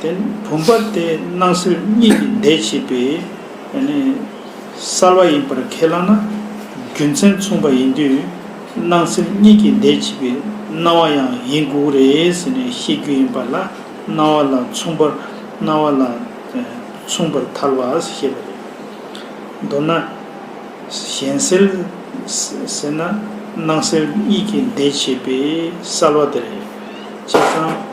དེ་ནི་བུམ་པ་སྟེ་སྣང་སྲིད་གཉིས་ཀྱི་འདས་བྱས་པའི་གསལ་བ་ཡིན་པར་ཁས་བླངས་ན་རྒྱུ་མཚན་མཚུངས་པ་ཡིན་དུས་སྣང་སྲིད་གཉིས་ཀྱི་འདས་བྱས་པའི་སྣང་བ་ཡང་ཡིན་དགོས་རེད་ཟེར་ནས་བཤད་རྒྱུ་ཡིན་པ་ལ་སྣང་བ་ལ་མཚུངས་པར་སྣང་བ་ལ་མཚུངས་པར་ཐལ་བ་ཞེས་པ་རེད། མདོར་ན། གཞན་སེལ་ཟེར་ན་སྣང་སྲིད་གཉིས་ཀྱི་འདས་བྱས་པའི་གསལ་བ་དེ་རེད། བྱས་ཙང།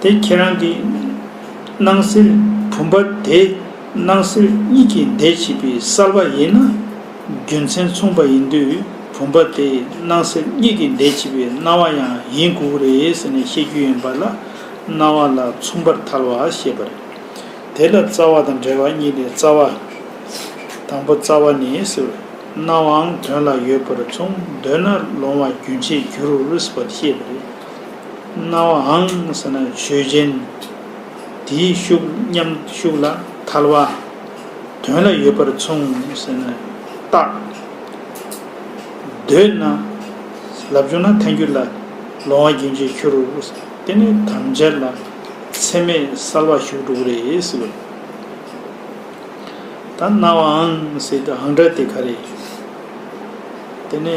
དེ་ཁྱེད་རང་གི། སྣང་སྲིད་བུམ་པ་དེ། སྣང་སྲིད་གཉིས་ཀྱི་འདས་བྱེད་པའི་སར་བ་ཡིན་ན། རྒྱུ་མཚན་མཚུངས་པ་ཡིན་དུས་བུམ་པ་དེ་སྣང་སྲིད་གཉིས་ཀྱི་འདས་བྱེད་པའི་སྣང་བ་ཡང་ཡིན་དགོས་ཀྱི་རེད་ཟེར་ནས་བཤད་རྒྱུ་ཡིན་པ་ལ། སྣང་བ་ལ་མཚུངས་པར་ཐལ་བ་ཞེས་པ་རེད། དེ་ལ་རྩ་བ་དང་འབྲེལ་བ་གཉིས་ལས་རྩ་བ། དང་པོ་རྩ་བ་ནི་སྲིད་པ། སྣང་བའང་དོན་ལ་ཡོད་པར་མཚུངས་འདོད་ན་ལོང་བ་རྒྱུན་ཆད་འགྱུར་བར་བཤད་པ་རེད། སྣང་བའང་ཟེར་ན་ཆོས་ཅན། དེའི་ཤུགས་མཉམ་ཤུགས་ལ་ཐལ་བ། དོན་ལ་ཡོད་པར་མཚུངས་ཟེར་ན་རྟགས། འདོད་ན། ལབ་བྱུང་ན་ཐལ་འགྱུར་ལ། ལོང་བ་རྒྱུན་ཆད་ཤུ་རུ། དེ་ནི་དམ་བཅའ་ལ། ཚད་མེད་གསལ་བ་ཞུགས་དྲུག་རེད། ད་སྣང་བའང་ཟེར་དུའང་འདྲ་སྟེ་ག་རེ། དེ་ནི།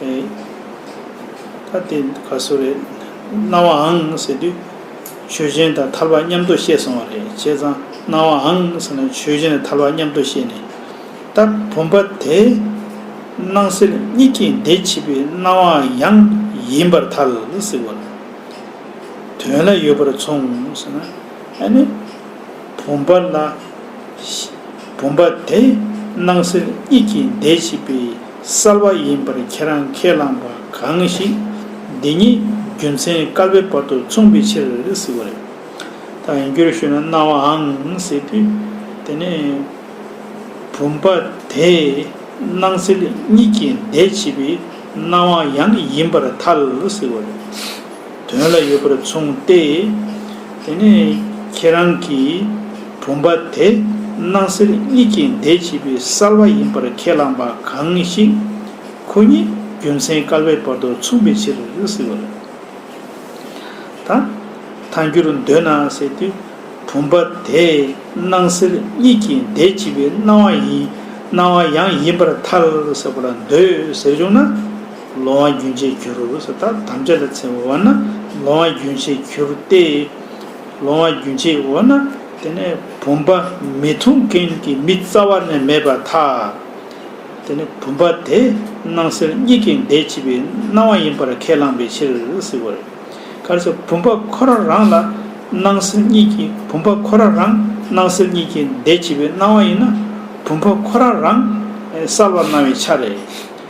ད་དེ་ག་སུ་རེད། སྣང་བ་ཨང་ཟེར་དུས། ཆོས་ཅན་དང་ཐར་པ་མཉམ་དུ་བཤད་སོང་བ་རེད་བྱས་ཙང་སྣང་བ་ཨང་ཟེར་ན་ཆོས་ཅན་དང་ཐར་པ་མཉམ་དུ་བཤད་ནས། ད་བུམ་པ་དེ། སྣང་སེལ་གཉིས་ཀྱི་འདས་ཕྱི་པའི་སྣང་བ་ཡང་ཡིན་པར་ཐལ་ཟེར་བ། དོན་ལ་ཡོད་པར་མཚུངས་ཟེར་ན། ཨ་ནི། བུམ་པ་ལ། བུམ་པ་དེ། སྣང་སེལ་གཉིས་ཀྱི་འདས་ཕྱི་པའི། གསར་བ་ཡིན་པར་ཁྱེད་རང་ཁས་བླངས་པ་གང་ཞིག་འདི་ཉིད་རྒྱུ་མཚན་སྐལ་པའི་བར་དུ་མཚུངས་པའི་ཕྱིར་ཟེར་བ་རེད། ད་ཡང་རྒྱུར་ཞུས་ན་སྣང་བའང་ཟེར་དུས་དེ་ནི་བུམ་པ་དེ་སྣང་སེལ་གཉིས་ཀྱི་ཟླས་ཕྱེས་པའི་སྣང་བ་ཡང་ཡིན་པར་ཐལ་ཟེར་བ་རེད། དོན་ལ་ཡོད་པར་མཚུངས་ཏེ། དེ་ནས་ཁྱེད་རང་གིས་བུམ་པ་དེ་སྣང་གསལ་གཉིས་ཀྱི་འདས་བྱེད་པའི་གསལ་བ་ཡིན་པར་ཁས་བླངས་པ་གང་ཞིག། ཁོ་གཉིས་རྒྱུ་མཚན་བསྐལ་པའི་བར་དུ་མཚུངས་པའི་ཕྱིར་ཟེར་བ་རེད། དང། ཐལ་འགྱུར་འདོད་ན་ཟེར་དུས། བུམ་པ་དེ་སྣང་གསལ་གཉིས་ཀྱི་འདས་བྱེད་པའི་སྣང་བ་ཡིན་སྣང་བ་ཡང་ཡིན་པར་ཐལ་ཟེར་བ་ལ་འདོད་ཟེར་བྱུང་ན། ལོང་བ་རྒྱུན་ཆད་གྱུར་སོ་ཐ་དམ་བཅའ་ལ་ཚེ་འོ་ན་ལོང་བ་རྒྱུན་ཆད་གྱུར་ཏེ། ལོང་བ་རྒྱུན་ཆད་འོ་ན་དེ་ནས་བུམ་པ་མི་འཐུང་མཁན་གྱི་མི་རྩ་བ་ནས་མེད་པར་ཐལ། དེ་ནས་བུམ་པ་དེ་སྣང་སེལ་གཉིས་ཀྱི་འདས་ཕྱི་པའི་སྣང་བ་ཡིན་པར་ཁས་བླངས་པའི་ཕྱིར། གལ་སྲིད་བུམ་པ་ཁོ་རང་རང་ལ་སྣང་སེལ་གཉིས་ཀྱི་བུམ་པ་ཁོ་རང་རང་སྣང་སེལ་གཉིས་ཀྱི་འདས་ཕྱི་པའི་སྣང་བ་ཡིན་ན་བུམ་པ་ཁོ་རང་རང་གསལ་བར་སྣང་བའི་ཆ་རེད།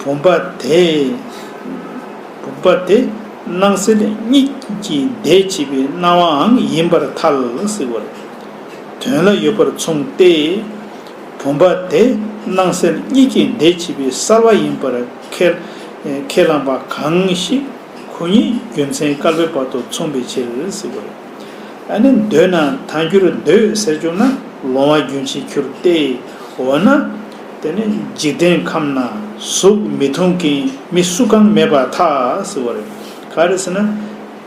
བུམ་པ་དེ། བུམ་པ་དེ། སྣང་སེལ་གཉིས་ཀྱི་འདས་བྱས་པའི་སྣང་བའང་ཡིན་པར་ཐལ། སྲིད་བར་དོན་ལ་ཡོད་པར་མཚུངས་ཏེ། བུམ་པ་དེ་སྣང་སེལ་གཉིས་ཀྱི་འདས་བྱས་པའི་གསལ་བ་ཡིན་པར་ཁས། ཁས་བླངས་པ་གང་ཞིག་གུ་ཉིད་རྒྱུ་མཚན་སྐལ་པའི་བར་དུ་མཚུངས་པའི་ཕྱིར། སྲིད་བར་ནི་འདོད་ན་ཐལ་འགྱུར་འདོད་ཟེར་གྱུར་ན་ལོང་བ་རྒྱུན་ཆད་ཁྱུར་ཏེ། འོ་ན། དེ་ནི་འཇིག་རྟེན་ཁམས་ན་གཟུགས་མི་མཐོང་གིན་མི་བསུ་གང་མེད་པ་ཐག་ཟེར་བ་རེད། ག་རེ་ཟེར་ན།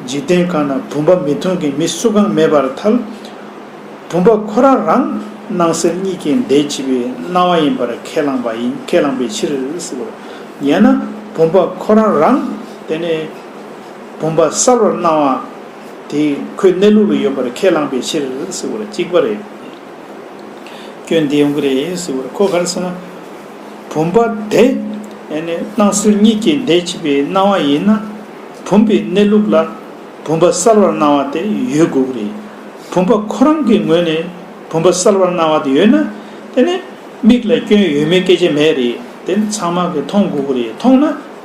འཇིག་རྟེན་ཁམས་ན་བུམ་པ་མི་མཐོང་གིན་མི་བསུ་གང་མེད་པར་ཐལ། བུམ་པ་ཁོ་རང་རང་སྣང་སེམས་གཉིས་ཀྱི་འདས་ཕྱི་པའི་སྣང་བ་ཡིན་པར་ཁས་བླངས་པ་ཡིན་ཁས་བླངས་པའི་ཕྱིར་ཟེར་བ། ཡན་ན་བུམ་པ་ཁོ་རང་རང་དེ་ནི་བུམ་པ་གསལ་བར་སྣང་བ་དེ་ཁོའི་གནས་ལུགས་ལ་ཡོད་པར་ཁས་བླངས་པའི་ཕྱིར་ཟེར་བ་ལ་གཅིག་པ་རེད། སྐྱོན་འདི་ཡོང་གི་རེད་ཟེར་བར་ཁོ་གར་སོང། བུམ་པ་དེ་སྣང་སྲིད་གཉིས་ཀྱི་འདས་ཕྱི་པའི་སྣང་བ་ཡིན་ན། བུམ་པའི་གནས་ལུགས་ལ་བུམ་པ་གསལ་བར་སྣང་བ་དེ་ཡོད་དགོས་ཀྱི་རེད། བུམ་པ་ཁོ་རང་གི་ངོས་ནས་བུམ་པ་གསལ་བར་སྣང་བ་དེ་ཡོད་ན། དེ་ནི་མིག་ལ་སྐྱོན་ཡོད་མེད་སྐད་ཆ་མེད་རེད་དེ་ནི་ཚང་མ་གིས་མཐོང་དགོས་ཀྱི་རེད་མཐོང་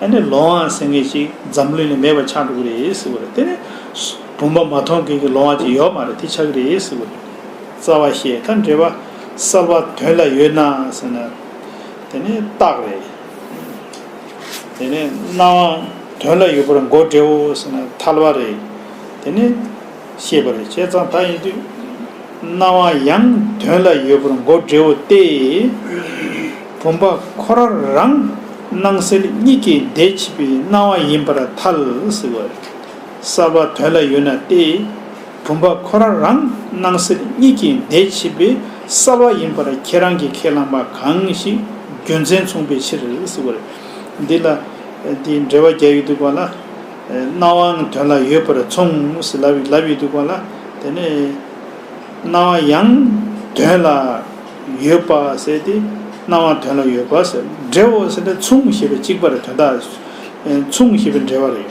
ན། ལོང་བ་ཟེར་མཁན་ཞིག་འཛམ་གླིང་ལས་མེད་པ་ཆགས་འགྲོ་གི་རེད་ཟེར་བར་དེ་ནི། བུམ་པ་མ་མཐོང་མཁན་གྱི་ལོང་བ་ཅིག་ཡོད་མ་རེད་དེ་ཆགས་ཀྱི་རེད་ཟེར་བར། རྩ་བ་ཞེས་ད་འབྲེལ་བ་གསར་བ་དོན་ལ་ཡོད་ན་ཟེར་ན་དེ་ནི་རྟགས་རེད། དེ་ནས་སྣང་བ་དོན་ལ་ཡོད་པར་མགོ་བསྒྲེའོ་ཟེར་ན་ཐལ་བ་རེད། དེ་ནི་ཤེས་པ་རེད་བྱས་ཙང་ད་ཡིན་དུས་སྣང་བ་ཡང་དོན་ལ་ཡོད་པར་མགོ་བསྒྲེའོ་སྟེ། བུམ་པ་ཁོ་ར་རང་སྣང་སེལ་གཉིས་ཀའི་འདས་ཕྱི་པའི་སྣང་བ་ཡིན་པར་ཐལ་ཟེར་བ་རེད། གསར་བ་དོན་ལ་ཡོད་ན་སྟེ། བུམ་པ་ཁོ་ར་རང་སྣང་སེར་གཉིས་ཀྱི་འདས་ཕྱི་པའི་ས་བ་ཡིན་པར་ཁྱེད་རང་གིས་ཁས་བླངས་པ་གང་ཞིག་རྒྱུ་མཚན་མཚུངས་པའི་ཕྱིར་ཞེས་བཀོད། འདི་ལ། འདི་འགྲེལ་བ་རྒྱ་ཡིག་འདུག་པ་ལ། སྣང་བའང་དོན་ལ་ཡོད་པར་མཚུངས་ཞེས་ལབ་ཡིག་འདུག་པ་ལ། དེ་ནས། སྣང་བ་ཡང་དོན་ལ་ཡོད་པ་ཟེར་ཏེ། སྣང་བ་དོན་ལ་ཡོད་པ་ཟེར། འབྲས་བུ་ཟེར་ནས་མཚུངས་ཞེས་པའི་གཅིག་པར་དོན་དག་མཚུངས་ཞེས་པའི་འབྲེལ་བ་རེད།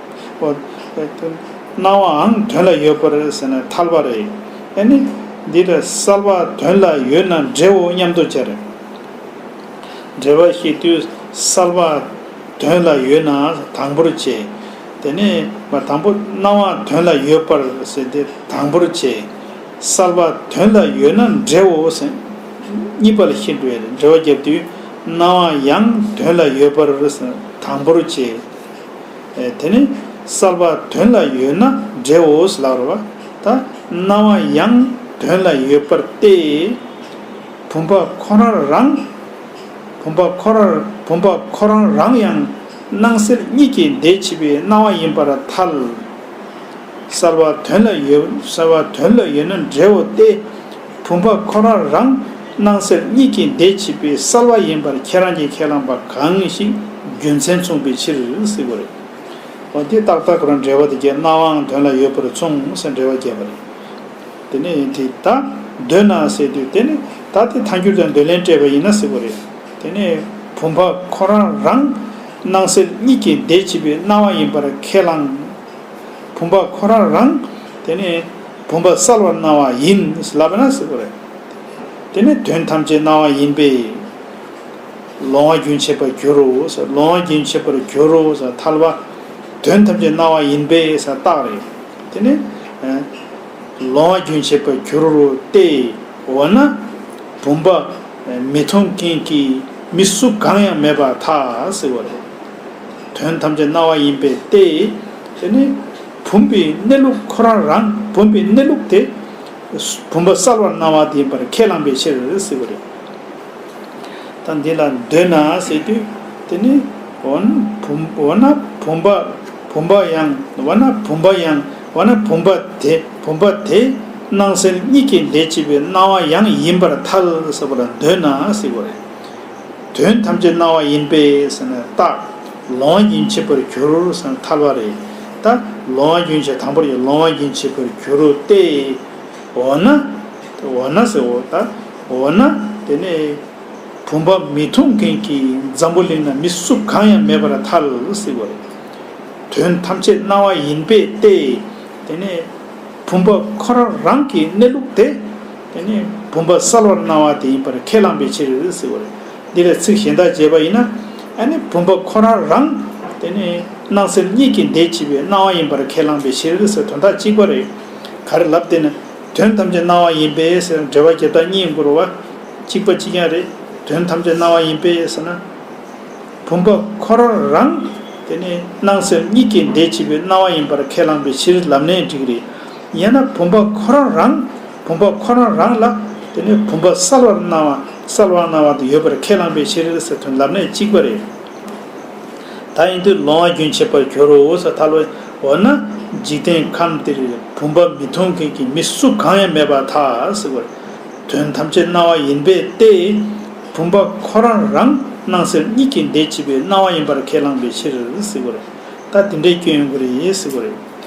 ཨོ། སྣང་བའང་དོན་ལ་ཡོད་པར་ཟེར་ན་ཐལ་བ་རེད། ཨེ་ནི། འདི་ལྟར་གསལ་བ་དོན་ལ་ཡོད་ན་འབྲེལ་འོ་སྙམ་དུ་བྱ་རེ། འབྲེལ་བ་ཤེས་དུས་གསལ་བ་དོན་ལ་ཡོད་ན་དང་པོར་བྱེད། དེ་ནས་དང་པོ་སྣང་བ་དོན་ལ་ཡོད་པར་ཟེར་ཏེ་དང་པོར་བྱེད། གསལ་བ་དོན་ལ་ཡོད་ན་འབྲེལ་འོ་ཟེར། གཉིས་པ་ལ་ཤེས་འབྲེལ་བ་བརྒྱབ་དུས་སྣང་བ་ཡང་དོན་ལ་ཡོད་པར་ཟེར་དང་པོར་བྱེད། དེ་ནི་གསར་པ་དོན་ལ་ཡོད་ན་འདྲེའོ་ལགས་རོ། ད་སྣང་བ་ཡང་དོན་ལ་ཡོད་པར་ཏེ། བུམ་པ་ཁོ་རང་རང། བུམ་པ་ཁོ་ར་བུམ་པ་ཁོ་རང་རང་ཡང་སྣང་གསལ་གཉིས་ཀྱི་འདས་ཕྱི་པའི་སྣང་བ་ཡིན་པར་ཐལ། གསར་བ་དོན་ལ་ཡོད་གསར་བ་དོན་ལ་ཡོད་ན་འདྲེའོ་སྟེ། བུམ་པ་ཁོ་རང་རང་སྣང་སེམས་གཉིས་ཀྱི་འདས་ཕྱི་པའི་གསལ་བ་ཡིན་པར་ཁྱེད་རང་གིས་ཁས་བླངས་པ་གང་ཞིག་རྒྱུ་མཚན་མཚུངས་པའི་ཕྱིར་སྲིད་པ་རེད། འོན་ཏེ་རྟག་རྟག་གོ་རང་འབྲེལ་བ་དེ་བརྒྱད་སྣང་བའང་དོན་ལ་ཡོད་པར་མཚུངས་སེམས་འབྲེལ་བ་བརྒྱད་པ་རེད། དེ་ནས་ཡིན་དུས་ད་འདོད་ན་སེལ་དུས་དེ་ནི་ད་དེ་ཐལ་འགྱུར་དང་འདོད་ལན་སྤྲད་པ་ཡིན་ན་སྲིད་པ་རེད། དེ་ནས་བུམ་པ་ཁོ་རང་རང་སྣང་སེམས་གཉིས་ཀྱི་འདས་ཕྱི་པའི་སྣང་བ་ཡིན་པར་ཁས་བླངས། བུམ་པ་ཁོ་རང་རང། དེ་ནས། བུམ་པ་གསལ་བར་སྣང་བ་ཡིན། དེ་ནི་དོན་ཐམས་ཅད་སྣང་བ་ཡིན་པས། ལོང་བ་རྒྱུན་ཆད་པར་འགྱུར་རོ། ལོང་བ་རྒྱུན་ཆད་པར་འགྱུར་རོ། ཐལ་བ། དོན་ཐམས་ཅད་སྣང་བ་ཡིན་པས་སོགས་བཏགས་རེ། དེ་ནི། ལོང་བ་རྒྱུན་ཆད་པར་འགྱུར་རོ་སྟེ། འོ་ན། བུམ་པ། མི་མཐོང་རྐྱེན་གྱིས་མི་གཟུགས་གང་ཡང་མེད་པར་ཐལ། དོན་ཐམས་ཅད་སྣང་བ་ཡིན་པས་ཏེ། དེ་ནི། བུམ་པའི་གནས་ལུགས་ཁོ་རང་རང་བུམ་པའི་གནས་ལུགས་དེ། བུམ་པ་གསལ་བར་སྣང་བ་དེའི་བར་ཁས་བླངས་པའི་ཕྱིར་ཟེར་བ་རེད། ད་འདི་ལ་འདོད་ན་ཟེར་དུས་དེ་ནི། འོ་ན་བུམ་འོ་ན་བུམ་པ་བུམ་པ་ཡང་འོ་ན་བུམ་པ་ཡང་འོ་ན་བུམ་པ་དེ་བུམ་པ་དེ་སྣང་སེམས་གཉིས་ཀའི་འདས་བྱས་པའི་སྣང་བ་ཡང་ཡིན་པར་ཐལ་ཟེར་བ་ལ་འདོད་ན་ཟེར་བ་རེད། དོན་ཐམས་ཅད་སྣང་བ་ཡིན་པས་ཟེར་ན་རྟགས། ལོང་རྒྱུན་ཆད་པར་གྱུར་སེམས་ལ་ཐར་བ་རེད་ད། ལོང་བ་རྒྱུན་ཆད་དང་པོར་ཡི་ལོང་བ་རྒྱུན་ཆད་པར་གྱུར་ཏེ། འོ་ན། འོ་ན་ཟེར་འོ་ད། འོ་ན། དེ་ནས། བུམ་པ་མི་མཐོང་མཁན་གྱི་འཛམ་བུ་གླིང་ན་མི་སུ་གང་ཡང་མེད་པར་ཐལ། སྲིད་པ་རེད། དོན་ཐམས་ཅད་སྣང་བ་ཡིན་པས་ཏེ། དེ་ནས། བུམ་པ་ཁོ་རང་རང་གི་གནས་ལུགས་དེ། དེ་ནི་བུམ་པ་གསལ་བར་སྣང་བ་དེ་ཡིན་པར་ཁས་བླངས་པའི་ཕྱིར་ཟེར་བ་རེད། འདི་ལ་ཚིག་གཞན་དག་འབྱེད་པ་ཡིན་ན། བུམ་པ་ཁོ་རང་རང། དེ་ནི་སྣང་གསལ་གཉིས་ཀྱི་འདས་ཕྱིས་པའི་སྣང་བ་ཡིན་པར་ཁས་བླངས་པའི་ཕྱིར་ཟེར་དོན་དག་གཅིག་པ་རེད། གར་ལབ་དེ་ནི་དོན་ཐམས་ཅད་སྣང་བ་ཡིན་པས་ཟེར་ན་འགྲེལ་བ་རྒྱབ་དག་གཉིས་འགོར་བ། གཅིག་པ་གཅིག་ཀྱང་རེད། དོན་ཐམས་ཅད་སྣང་བ་ཡིན་པས་ཟེར་ན། བུམ་པ་ཁོ་རང་རང། དེ་ནི་སྣང་གསལ་གཉིས་ཀྱི་འདས་ཕྱིས་པའི་སྣང་བ་ཡིན་པར་ཁས་བླངས་པའི་ཕྱིར་ལབ་ནས་འགྲིག་རེད། ཡང་ན་བུམ་པ་ཁོ་རང་རང། བུམ་པ་ཁོ་རང་རང་ལ། དེ་ནས་བུམ་པ་གསལ་བར་སྣང་བ་གསལ་བར་སྣང་བ་དེ་ཡོད་པར་ཁས་བླངས་པའི་ཕྱིར་ཟེར་དོན་ལམ་གནད་གཅིག་པ་རེད། ད་ཡིན་དུས་ལོང་བ་རྒྱུན་ཆད་པར་འགྱུར་རོ་ས་ཐལ་བས་འོ་ན་འཇིག་རྟེན་ཁམས་འདིར་བུམ་པ་མི་མཐོང་མཁན་གྱི་མི་སུ་གང་ཡང་མེད་པ་ཐག་བར་དོན་ཐམས་ཅད་སྣང་བ་ཡིན་པས་ཏེ། བུམ་པ་ཁོ་རང་རང་སྣང་གསལ་གཉིས་ཀྱི་འདས་ཕྱི་པའི་སྣང་བ་ཡིན་པར་ཁས་བླངས་པའི་ཕྱིར། ད་དེ་འདྲའི་སྐྱོན་ཡོང་གི་རེད།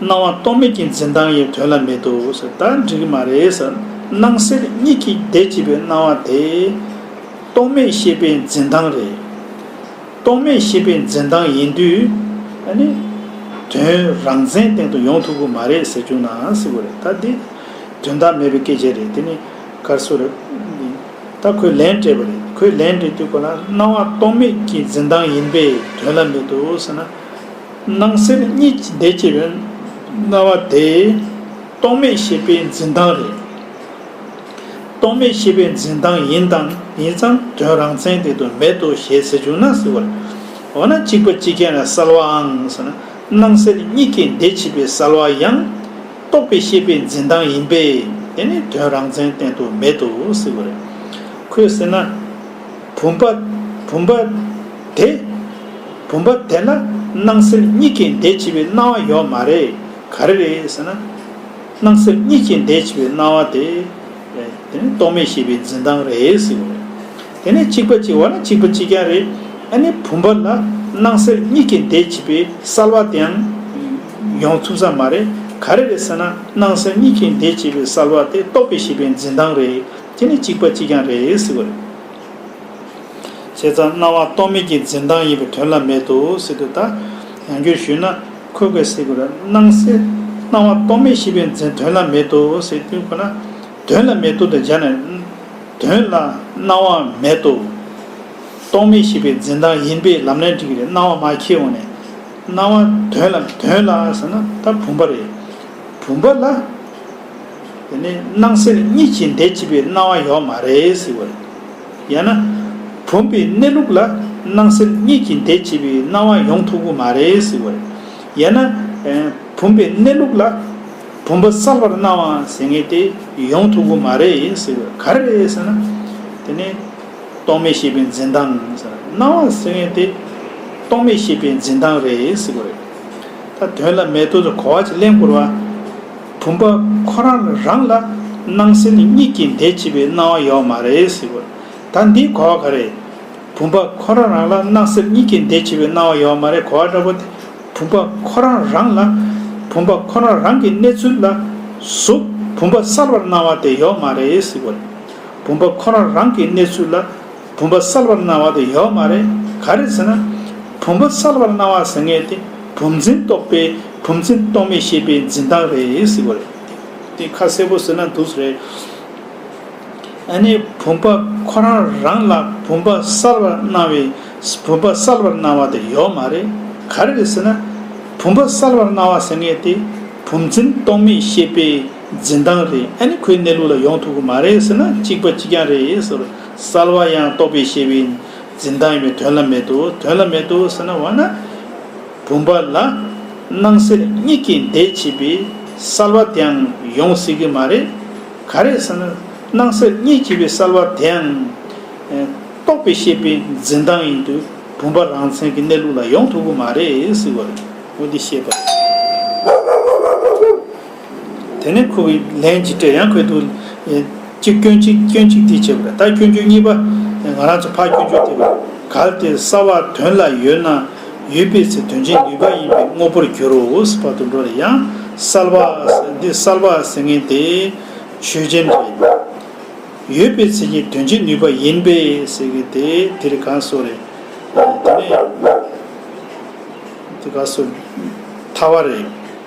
སྣང་བ་རྟོག་མེད་ཀྱི་འཛིན་སྟངས་ཡེ་དོན་ལ་མེད་དོ་ཟེར་ད་འགྲིག་གི་མ་རེད་ཟེར། སྣང་གསལ་གཉིས་ཀྱི་བདེ་སྐྱིད་པའི་སྣང་བ་དེ། རྟོག་མེད་ཤེས་པའི་འཛིན་སྟངས་རེད། རྟོག་མེད་ཤེས་པའི་འཛིན་སྟངས་ཡིན་དུས། ནི། དོན་རང་མཚན་སྟེང་དུ་ཡོང་ཐུབ་གི་མ་རེད་ཟེར་བཅུག་ནའང་སྲིད་གི་རེད་ད་འདི། དོན་དག་མེད་པའི་སྐད་ཆ་རེད་དེ་ནི། གར་སོ་རེད། འདི། ད་ཁོས་ལན་སྤྲད་པ་རེད་ཁོས་ལན་སྤྲད་དུས་ཁོ་ལ་སྣང་བ་རྟོག་མེད་ཀྱི་འཛིན་སྟངས་ཡིན་པས་དོན་ལ་མེད་དོ་ཟེར་ན། སྣང་སེམས་གཉིས་ཀྱི་བདེ་སྐྱིད་རེད། རྣ་བ་དེ། རྟོག་མེད་ཤེས་པའི་འཛིན་སྟངས་རེད། རྟོག་མེད་ཤེས་པའི་འཛིན་སྟངས་ཡིན་དང་ཡིན་ཙང་དོན་རང་མཚན་དེ་དོན་མེད་དོ་ཞེས་ཟེར་བྱུང་ན་ཟེར་བར། འོ་ན་གཅིག་པ་གཅིག་རྐྱེན་ལ་གསལ་བའང་ཟེར་ན་སྣང་སེམས་གཉིས་ཀའི་བདེ་སྐྱིད་པའི་གསལ་བ་ཡང། རྟོག་པའི་ཤེས་པའི་འཛིན་སྟངས་ཡིན་པས་དེ་ནི་དོན་རང་མཚན་བསྟན་དོན་མེད་དོ་ཟེར་བར། ཁོས་ཟེར་ན། བུམ་པ། བུམ་པ། དེ། བུམ་པ་དེ་ན་སྣང་སེལ་གཉིས་ཀྱི་འདས་བྱེད་པའི་སྣང་བ་ཡོད་མ་རེད། ག་རེ་རེད་ཟེར་ན། སྣང་སེལ་གཉིས་ཀྱི་འདས་བྱེད་པའི་སྣང་བ་དེ། དེ་ནི་རྟོག་མེད་ཤེས་པའི་འཛིན་སྟངས་རེད་ཟེར་གྱི་རེད། དེ་ནས་གཅིག་པ་གཅིག་བ་ན་གཅིག་པ་གཅིག་ཀྱང་རེད། ཨ་ནི་བུམ་པ་ལ་སྣང་སེལ་གཉིས་ཀྱི་འདས་བྱེད་པའི་གསལ་བ་དེའང་ཡོང་ཐུབ་ས་མ་རེད། ག་རེ་རེད་ཟེར་ན་སྣང་སེལ་གཉིས་ཀྱི་འདས་བྱེད་པའི་གསལ་བ་དེ་རྟོག་པའི་ཤེས་པའི་འཛིན་སྟངས་རེད། དེ་ནི་གཅིག་པ་གཅིག་རྐྱང་རེད་ཟེར་གི་རེད། བྱས་ཙང་སྣང་བ་རྟོག་མེད་ཀྱི་འཛིན་སྟངས་ཡིན་པའི་དོན་ལ་མེད་དོ་ཟེར་དུས་ད་ཡང་རྒྱུར་ཞུས་ན་ཁོས་ཁོས་ཟེར་གི་རེད་སྣང་གསལ་སྣང་བ་རྟོག་མེད་ཤེས་པའི་འཛིན་དོན་ལ་མེད་དོ་ཟེར་དུས་ཁོ་ན་དོན་ལ་མེད་དོ་དང་སྦྱར་ནས། དོན་ལ་སྣང་བ་མེད་དོ། རྟོག་མེད་ཤེས་པའི་འཛིན་སྟངས་ཡིན་པས་ལམ་ནས་འགྲིག་གི་རེད་སྣང་བ་མ་ཁྱེར་འོང་ནས། སྣང་བ་དོན་ལ་དོན་ལ་ཟེར་ན་ད་བུམ་པ་རེད། བུམ་པ་ལ། དེ་ནས་སྣང་སེར་གཉིས་ཀྱི་འདས་བྱིས་པའི་སྣང་བ་ཡོད་མ་རེད་ཟེར་བ་རེད། ཡང་ན། བུམ་པའི་གནས་ལུགས་ལ་སྣང་སེར་གཉིས་ཀྱི་འདས་བྱིས་པའི་སྣང་བ་ཡོང་ཐུབ་གི་མ་རེད་ཟེར་བ་རེད། ཡང་ན། བུམ་པའི་གནས་ལུགས་ལ་བུམ་པ་གསར་པར་སྣང་བ་ཟེར་ངེས་ཏེ་ཡོང་ཐུབ་གི་མ་རེད་ཟེར་བ་ག་རེ་རེད་ཟེར་ན། དེ་ནས། རྟོག་མེད་ཤེས་པའི་འཛིན་སྟངས་ཟེར་ན་སྣང་བ་ཟེར་ངེས་ཏེ། རྟོག་མེད་ཤེས་པའི་འཛིན་སྟངས་རེད་ཟེར་བ་རེད། ད་དོན་ལ་མེད་དོ་ཟེར་གོ་བ་གཅིག་གླེང་བསྐོར་བ། བུམ་པ་ཁོ་རང་ལ་རང་ལ་སྣང་སེམས་གཉིས་ཀྱི་འདས་ཕྱི་བའི་སྣང་བ་ཡོད་མ་རེད་ཟེར་བ། ད་འདིའི་གོ་བ་ག་རེད། བུམ་པ་ཁོ་རང་རང་ལ་སྣང་སེམས་གཉིས་ཀྱི་འདས་ཕྱི་བའི་སྣང་བ་ཡོད་མ་རེད་གོ་བ་འདྲ་པོ་དེ་བུམ་པ་ཁོ་རང་རང་ལ་བུམ་པ་ཁོ་རང་རང་གི་གནས་ཚུལ་ལ་གཟུགས་བུམ་པ་གསར་བར་སྣང་བ་དེ་ཡོད་མ་རེད་ཟེར་བ། བུམ་པ་ཁོ་རང་རང་གི་གནས་ཚུལ་ལ། བུམ་པ་གསལ་བར་སྣང་བ་དེ་ཡོད་མ་རེད་ག་རེད་ཟེར་ན། བུམ་པ་གསལ་བར་སྣང་བ་ཟེར་ངེས་དེ་བུམ་འཛིན་རྟོག་པའི་བུམ་འཛིན་རྟོག་མེད་ཤེས་པའི་འཛིན་སྟངས་རེད་ཟེར་གོ་རེད། དེ་ཁ་གསལ་པོ་ཟེར་ན་འདུག་ཟེར་རེད། ཨ་ནི་བུམ་པ་ཁོ་རང་རང་ལ་བུམ་པ་གསལ་བར་སྣང་བའི་བུམ་པ་གསལ་བར་སྣང་བ་དེ་ཡོད་མ་རེད་ག་རེད་ཟེར་ན། བུམ་པ་གསལ་བར་སྣང་བ་ཟེར་ངེས་དེ་བུམ་འཛིན་རྟོག་མེད་ཤེས་པའི་འཛིན་སྟངས་རེད་ཨ་ནི་ཁོའི་གནས་ལུགས་ལ་ཡོང་ཐུབ་གི་མ་རེད་ཟེར་ན་གཅིག་པ་གཅིག་རྐྱང་རེད་ཟེར། གསལ་བ་ཡང་རྟོགས་པའི་ཤེས་པའི་འཛིན་སྟངས་ཡིན་པས་དོན་ལ་མེད་དོ། དོན་ལ་མེད་དོ་ཟེར་ན་འོ་ན། བུམ་པ་ལ་སྣང་སེར་གཉིས་ཀྱི་འདས་བྱས་པའི་གསལ་བ་དེའང་ཡོང་སྲིད་ཀྱི་མ་རེད། ག་རེད་ཟེར་ན། སྣང་སེར་གཉིས་བྱས་པའི་གསལ་བ་དེའང། རྟོགས་པའི་ཤེས་པའི་འཛིན་སྟངས་ཡིན་དུས་བུམ་པ་རང་མཚན་གྱི་གནས་ལུགས་ལ་ཡོང་ཐུབ་ཀྱི་མ་རེད། ཟེར་བ་རེད། འོ་འདི་ཤེས་པ་རེད། དེ་ནས་ཁོ་བོས་ལན་གཅིག་སྤྲད་ཡང་ཁོས་འདུག། གཅིག་སྐྱོན་གཅིག་སྐྱོན་གཅིག་འདི་བྱས་པ་རེད་ད་སྐྱོན་རྒྱུ་གཉིས་པ། ང་རང་ཚོ་ཕ་སྐྱོན་རྒྱུ་དེ་བས་གལ་ཏེ་ས་བ་དོན་ལ་ཡོད་ན་ཡོད་པའི་ཚེ་དོན་ཆེན་ནུས་པ་ཡིན་པའི་དངོས་པོར་འགྱུར་རོ་ཨུས་བར་དུ་འགྲོ་རེ་ཡང་གསལ་བ། འདི་གསལ་བ་ཟེར་ངེས་དེ་ཆོས་ཅན་རེད། ཡོད་པའི་ཚེ་ཀྱི་དོན་ཆེན་ནུས་པ་ཡིན་པས་ཟེར་གི་དེ་དེ་རེད་གང་སོ་རེད། དེ་ནས། དེ་ག་སོ། ཐ་བ་རེད།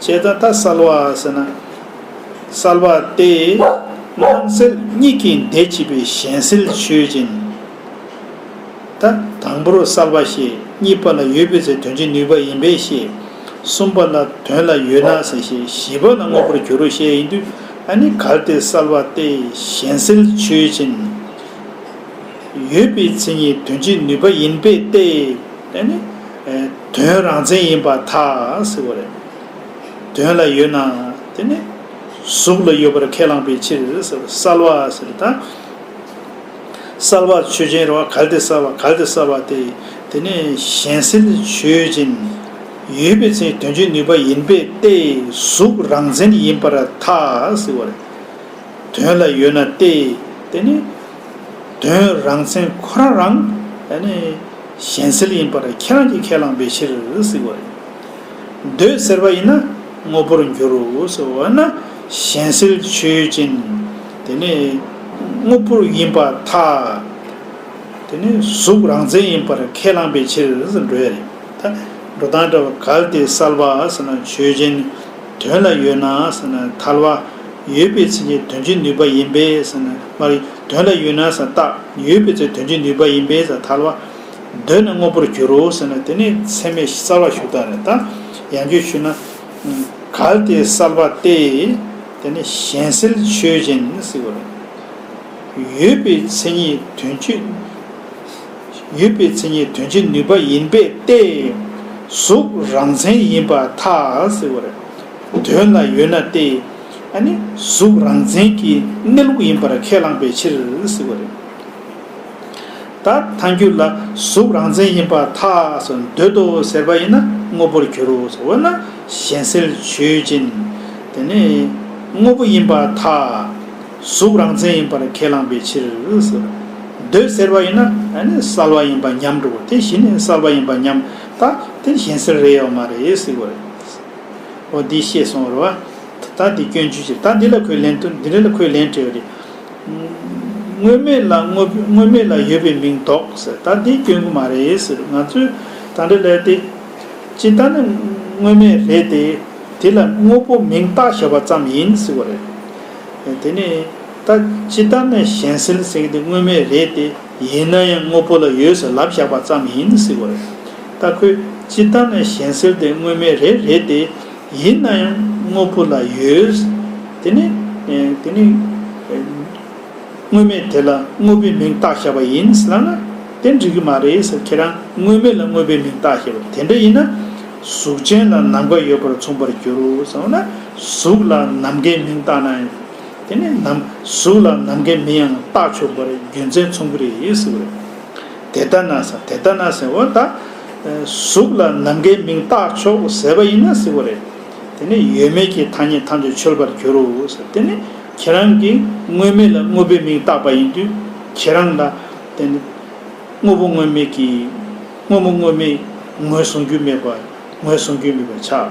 ཅེས་ད་ལྟ་གསལ་བ་ཟེར་ན་གསལ་བ་སྟེ། སྣང་སེལ་གཉིས་ཀྱི་འདས་ཕྱིས་པའི་གཞན་སེལ་ཆོས་ཅན། ད་དང་པོར་གསལ་བ་ཞེས་གཉིས་པ་ལ་ཡོད་པའི་ཚེ་དོན་བྱེད་ནུས་པ་ཡིན་པས་ཤེས། གསུམ་པ་ལ་དོན་ལ་ཡོད་ན་ཟེར་ཞེས་བཞི་པ་ལ་དངོས་པོར་འགྱུར་རོ་ཞེས་ཡིན་དུས་ཨ་ནི་གལ་ཏེ་གསལ་བ་སྟེ་གཞན་སེལ་ཆོས་ཅན། ཡོད་པའི་ཚེ་གཉིས་དོན་བྱེད་ནུས་པ་ཡིན་པས་ཏེ། དོན་རང་མཚན་ཡིན་པར་ཐག་བ་རེད། དོན་ལ་ཡོད་ན་དེ་ནི་གཟུགས་ལ་ཡོད་པར་ཁས་བླངས་པའི་ཕྱིར་གསལ་བ་ཟེར་ད། གསལ་བ་ཆོས་ཅན་རོ་གལ་ཏེ་གསལ་བ་གལ་ཏེ་གསལ་བ་དེ་དེ་ནི་གཞན་སེལ་ཆོས་ཅན་ཡོད་པའི་ཚེ་དོན་བྱེད་ནུས་པ་ཡིན་པས་ཏེ་གཟུགས་རང་མཚན་ཡིན་པར་ཐག་བ་རེད། དོན་ལ་ཡོད་ན་སྟེ་དེ་ནི་དོན་རང་མཚན་ཁོ་རང་རང། གཞན་སེལ་ཡིན་པར་ཁྱེད་རང་གིས་ཁས་བླངས་པའི་ཕྱིར་གཟིགས་བ་རེད། འདོད་ཟེར་བ་ཡིན་ན་དངོས་པོར་འགྱུར་རོ་ཟེར་བ་ན། གཞན་སེལ་ཆོས་ཅན། དེ་ནི། དངོས་པོ་ཡིན་པ་ཐ། དེ་ནི་གཟུགས་རང་མཚན་ཡིན་པར་ཁས་བླངས་པའི་ཕྱིར་ཟེར་འགྲོ་ཡ་རེད། ད་འགྲོ་དང་འདྲ་བ་གལ་ཏེ་སལ་བ་ཟེར་ན་ཆོས་ཅན། དོན་ལ་ཡོད་ན་ཟེར་ན་ཐལ་བ། ཡོད་པའི་ཚིག་ནི་དོན་གྱི་ནུས་པ་ཡིན་པས་ཟེར་ན་མ་རེད། དོན་ལ་ཡུལ་སྣང་ཟ་བཏགས་ཡོད་པའི་ཚེ་དོན་གྱི་ནུས་པ་ཡིན་པས་ཟ་ཐལ་བ། གདོད་ནས་དངོས་པོར་འགྱུར་རོ་ཟེར་ན་དེ་ནི་ཚད་མའི་གསལ་བ་ཞུ་དག་རེད་ད། ཡང་བརྗོད་ཞུས་ན། གལ་ཏེ་གསལ་བ་སྟེ། དེ་ནི་གཞན་སེལ་ཆོས་གཞན་སེལ་བ་རེད། ཡོད་པའི་མཚན་ཉིད་དོན་གྱི། ཡོད་པའི་མཚན་ཉིད་དོན་གྱི་ནུས་པ་ཡིན་པས་ཏེ། གཟུགས་རང་མཚན་ཡིན་པ་ཐལ་ཟེར་བ་རེད། དོན་ལ་ཡོད་ན་སྟེ། གཟུགས་རང་མཚན་གྱི་གནས་ལུགས་ཡིན་པར་ཁས་བླངས་པའི་ཕྱིར། ད་ཐང་རྒྱུད་ལ་གཟུགས་རང་མཚན་ཡིན་པ་ཐགས་སུ་འདོད་དོ་ཟེར་བ་ཡིན་ན་དངོས་པོར་འགྱུར་རོ་འོ་ན་གཞན་སེལ་ཆོས་ཅན། དངོས་པོ་ཡིན་པ་ཐགས་གཟུགས་རང་མཚན་ཡིན་པར་ཁས་བླངས་པའི་ཕྱིར། འདོད་ཟེར་བ་ཡིན་ན་གསལ་བ་ཡིན་པ་ཉམས་འགྲོ་དེ་བཞིན་གསལ་བ་ཡིན་པ་ཉམས་ད་དེ་གཞན་སེལ་རེད་ཡོད་མ་རེད། འོ་འདི་ཤེས་སོང་རོ། ད་འདི་སྐྱོན་བརྗོད་བྱེད་ད་འདི་ལ་ཁོས་ལན་ཐུབ་འདི་རེ་ལ་ཁོས་ལན་སྤྲད་དངོས་མེད་ལ་དངོས་མེད་ལ་ཡོད་པའི་མིང་འདོག་ཟེར་ད་འདི་སྐྱོན་གོ་མ་རེད་ཟེར་ང་ཚོས་ད་འདྲ་ལས་ཏེ། སྤྱིར་ད་ནི་དངོས་མེད་རེད་དེ། དེ་ལ་དངོས་པོ་མིང་བཏགས་བྱས་པ་ཙམ་ཡིན་ཟེར་བ་རེད། དེ་ནས་ད་སྤྱིར་ད་ནི་གཞན་སེལ་ཟེར་གི་འདི་དངོས་མེད་རེད་དེ། ཡིན་ན་ཡང་དངོས་པོ་ལ་ཡོད་ཟེར་ལབ་བཞག་པ་ཙམ་ཡིན་སྲིད་གོ། རྟ་ཁོས་ཅི་ལྟར་ན་གཞན་སེལ་དེ་དངོས་མེད་རེད་རེད་དེ། ཡིན་ན་ཡང་དངོས་པོ་ལ་ཡོད། དེ་ནི། དེ་ནི། དངོས་མེད་དེ་ལ་དངོས་པོའི་མིང་བཏགས་བཞག་པ་ཡིན་སྲིད་ལབ་ན། དེ་འགྲིག་གི་མ་རེད་ཟེར་ཁྱེད་རང་དངོས་མེད་ལ་དངོས་པོའི་མིང་བཏགས་བཞེད་པ་དེ་འདྲ་ཡིན་ན། གཟུགས་ཅན་ལ་ནམ་མཁའ་ཡོད་པར་མཚུངས་པར་འགྱུར་རོ་ཟེར་ན། གཟུགས་ལ་ནམ་མཁའི་མིང་བཏགས་ན། དེ་ནས་ནམ་གཟུགས་ལ་ནམ་མཁའི་མི་ཡང་རྟག་ཆོག་པར་རྒྱུ་མཚན་མཚུངས་པ་རེད་ཟེར་བ་རེད། དེ་ལྟ་ན་ཟེར་དེ་ལྟ་ན་ཟེར་བ་ད། གཟུགས་ལ་ནམ་མཁའི་མིང་རྟག་ཆོག་ཟེར་བ་ཡིན་ན་ཟེར་བ་རེད། དེ་ནས་ཡོད་མེད་ཀྱི་ཐ་སྙད་ཐམས་ཅད་འཆོལ་བར་འགྱུར་རོ་ཟེར་དེ་ནི་ཁྱེད་རང་གིས་དངོས་མེད་ལ་དངོས་པོའི་མིང་བཏགས་པ་ཡིན་དུས་ཁྱེད་རང་ལ། དེ་ནི། དངོས་པོ་དངོས་མེད་ཀྱི། དངོས་པོ་དངོས་མེད་ངོས་བཟུང་རྒྱུ་མེད་པ་ངོས་བཟུང་རྒྱུ་མེད་པར་ཆགས།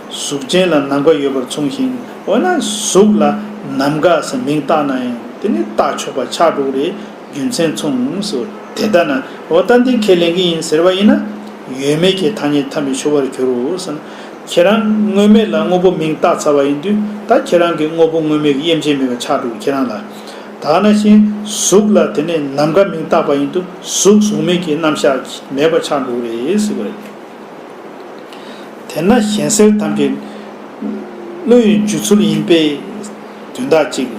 གཟུགས་ཅན་ལ་ནམ་མཁའ་ཡོད་པར་མཚུངས་ཤིང་འོ་ན་གཟུགས་ལ་ནམ་མཁའ་ཟེར་མིང་བཏགས་ན་ཡང་དེ་ནི་བཏགས་ཆོག་པ་ཆགས་འགྲོ་རེད་རྒྱུ་མཚན་མཚུངས་སོ་དེ་ལྟ་ན་འོ་ད་འདི་ཁས་ལེན་གྱི་ཡིན་ཟེར་བ་ཡིན་ན། ཡོད་མེད་ཀྱི་ཐ་སྙད་ཐམས་ཅད་ཤོར་བར་གྱུར་རོ་ཟེར། ཁྱེད་རང་དངོས་མེད་ལ་དངོས་པོ་མིང་བཏགས་ཚར་བ་ཡིན་དུས་ད་ཁྱེད་རང་གི་དངོས་པོ་དངོས་མེད་ཀྱི་དབྱེ་འབྱེད་མེད་པ་ཆགས་འགྲོ་ཁྱེད་རང་ལ་དག་ན་ཤིང་གཟུགས་ལ་དེ་ནས་ནམ་མཁའ་མིང་བཏགས་པ་ཡིན་དུས་གཟུགས་གཟུགས་མེད་ཀྱི་རྣམ་གཞག་མེད་པ་ཆགས་འགྲོ་རེད་ཟེར་བ་རེད། དེས་ན་གཞན་སེལ་དམ་པའི། བློ་ཡི་འཇུ་ཚུལ་ཡིན་པས། དོན་དག་གཅིག།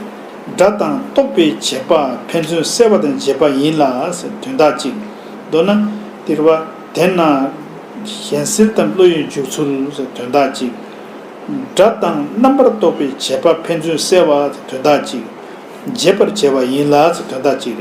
སྒྲ་དང་རྟོག་པའི་བྱེད་པ་ཕན་ཚུན་བསྲེ་བ་དང་འབྱེད་པ་ཡིན་ལ། དོན་དག་གཅིག། མདོར་ན། དེར་བ། དེས་ན། གཞན་སེལ་དམ་བློ་ཡི་འཇུག་ཚུལ། དོན་དག་གཅིག། སྒྲ་དང་རྣམ་པར་རྟོག་པའི་བྱེད་པ་ཕན་ཚུན་བསྲེ་བ། དོན་དག་གཅིག། འབྱེད་པར་བྱེད་པ་ཡིན་ལ། དོན་དག་གཅིག།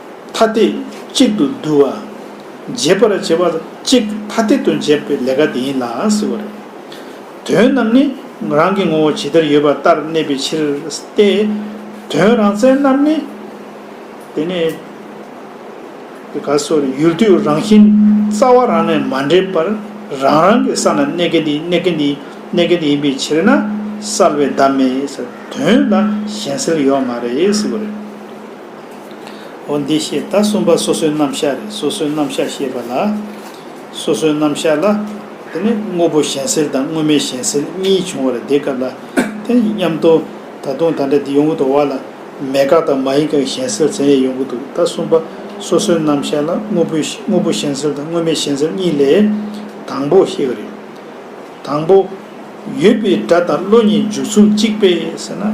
ཐ་དད་གཅིག་ཏུ་བསྡུ་བ། འབྱེད་པར་བྱེད་པ་གཅིག་ཐ་དད་དུ་འབྱེད་པའི་ལས་ཀ་དེ་ཡིན་ལའང་ཟེར་བ་རེད། དོན་རྣམས་ནི་རང་གི་ངོ་བོ་ཇི་ལྟར་ཡོད་པ་ལྟར་གནས་པའི་ཕྱིར་ཏེ། དོན་རང་མཚན་རྣམས་ནི། དེ་ནི། དེ་ག་སོ་རེ་ཡུལ་དུས་རང་བཞིན་རྩ་བ་རང་ནས་མ་འདྲེས་པར་རང་རང་གི་ས་ན་གནས་མཁན་དེ་གནས་མཁན་དེ་གནས་མཁན་དེ་ཡིན་པའི་ཕྱིར་ན་གསལ་བའི་བདག་མེད་ཟེར་དོན་ལ་གཞན་སེལ་ཡོད་མ་རེད་ཟེར་བ་རེད། འོ་འདི་ཞེས་ད་གསུམ་པ་སོ་སོའི་རྣམ་གཞག་རེད་སོ་སོའི་རྣམ་གཞག་ཞེས་པ་ལ། སོ་སོའི་རྣམ་གཞག་ལ། དེ་ནས་དངོས་པོ་གཞན་སེལ་དང་དངོས་མེད་གཞན་སེལ་གཉིས་བྱུང་བར་དེ་སྐབས་ལ། དེ་མཉམ་དུ། ད་དུང་ད་འདྲ་འདི་ཡོང་གི་འདུག་བ་ལ། མེད་དགག་དང་མ་ཡིན་དགག་གཞན་སེལ་ཟེར་ཡས་ཡོང་གི་འདུག་ད་གསུམ་པ་སོ་སོའི་རྣམ་གཞག་ལ་དངོས་པོའི་དངོས་པོ་གཞན་སེལ་དང་དངོས་མེད་གཞན་སེལ་གཉིས་ལས། དང་པོ་ཤེས་གི་རེད། དང་པོ། ཡོད་པའི་སྒྲ་དང་བློ་གཉིས་འཇུག་ཚུལ་གཅིག་པས་ཟེར་ན།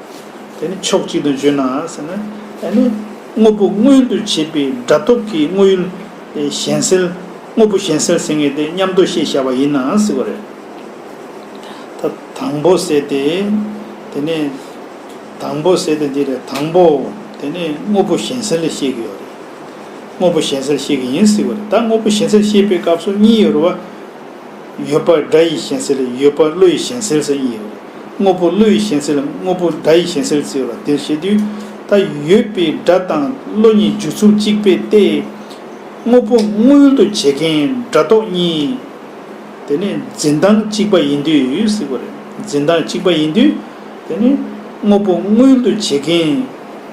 དེ་ནི་ཕྱོགས་གཅིག་ཏུ་བརྗོད་ནའང་ཟེར་ན་ཡང་ནི། དངོས་པོ་མངོན་དུ་བྱེད་པའི་སྒྲ་སྟོབས་ཀྱིས་དངོས་ཡུལ་གཞན་སེལ། དངོས་པོ་གཞན་སེལ་ཟེར་ངེས་ཏེ་མཉམ་དུ་ཞེས་བྱ་བ་ཡིན་ནའང་སྲིད་པ་རེད། ད་དང་པོ་ཟེར་ཏེ། དེ་ནི། དང་པོ་ཟེར་ཏེ་འདི་རེད་དང་པོ། དེ་ནི་དངོས་པོ་གཞན་སེལ་ལས་བཤད་ཀྱི་ཡོད་རེད། དངོས་པོ་གཞན་སེལ་བཤད་ཀྱི་ཡིན་སྲིད་པ་རེད། ད་དངོས་པོ་གཞན་སེལ་བཤད་པའི་སྐབས་སུ་གཉིས་ཡོད་རེད་བ། ཡོད་པར་སྒྲ་ཡིས་གཞན་སེལ་ཡོད་པར་བློ་ཡིས་གཞན་སེལ་སེལ་ཡིན། དངོས་པོ་བློ་ཡིས་གཞན་སེལ་དངོས་པོ་སྒྲ་ཡིས་གཞན་སེལ་ཟེར་བ་འདིར་བཤད་དུས། ད་ཡོད་པའི་སྒྲ་དང་བློ་གཉིས་རྒྱུ་ཚུལ་གཅིག་པས་ཏེ། དངོས་པོ་དངོས་ཡུལ་དུ་བྱེད་མཁན་སྒྲ་རྟོག་གཉིས། དེ་ནི་འཛིན་སྟངས་གཅིག་པ་ཡིན་དུས། འཛིན་སྟངས་གཅིག་པ་ཡིན་དུས། དེ་ནི་དངོས་པོ་དངོས་ཡུལ་དུ་བྱེད་མཁན།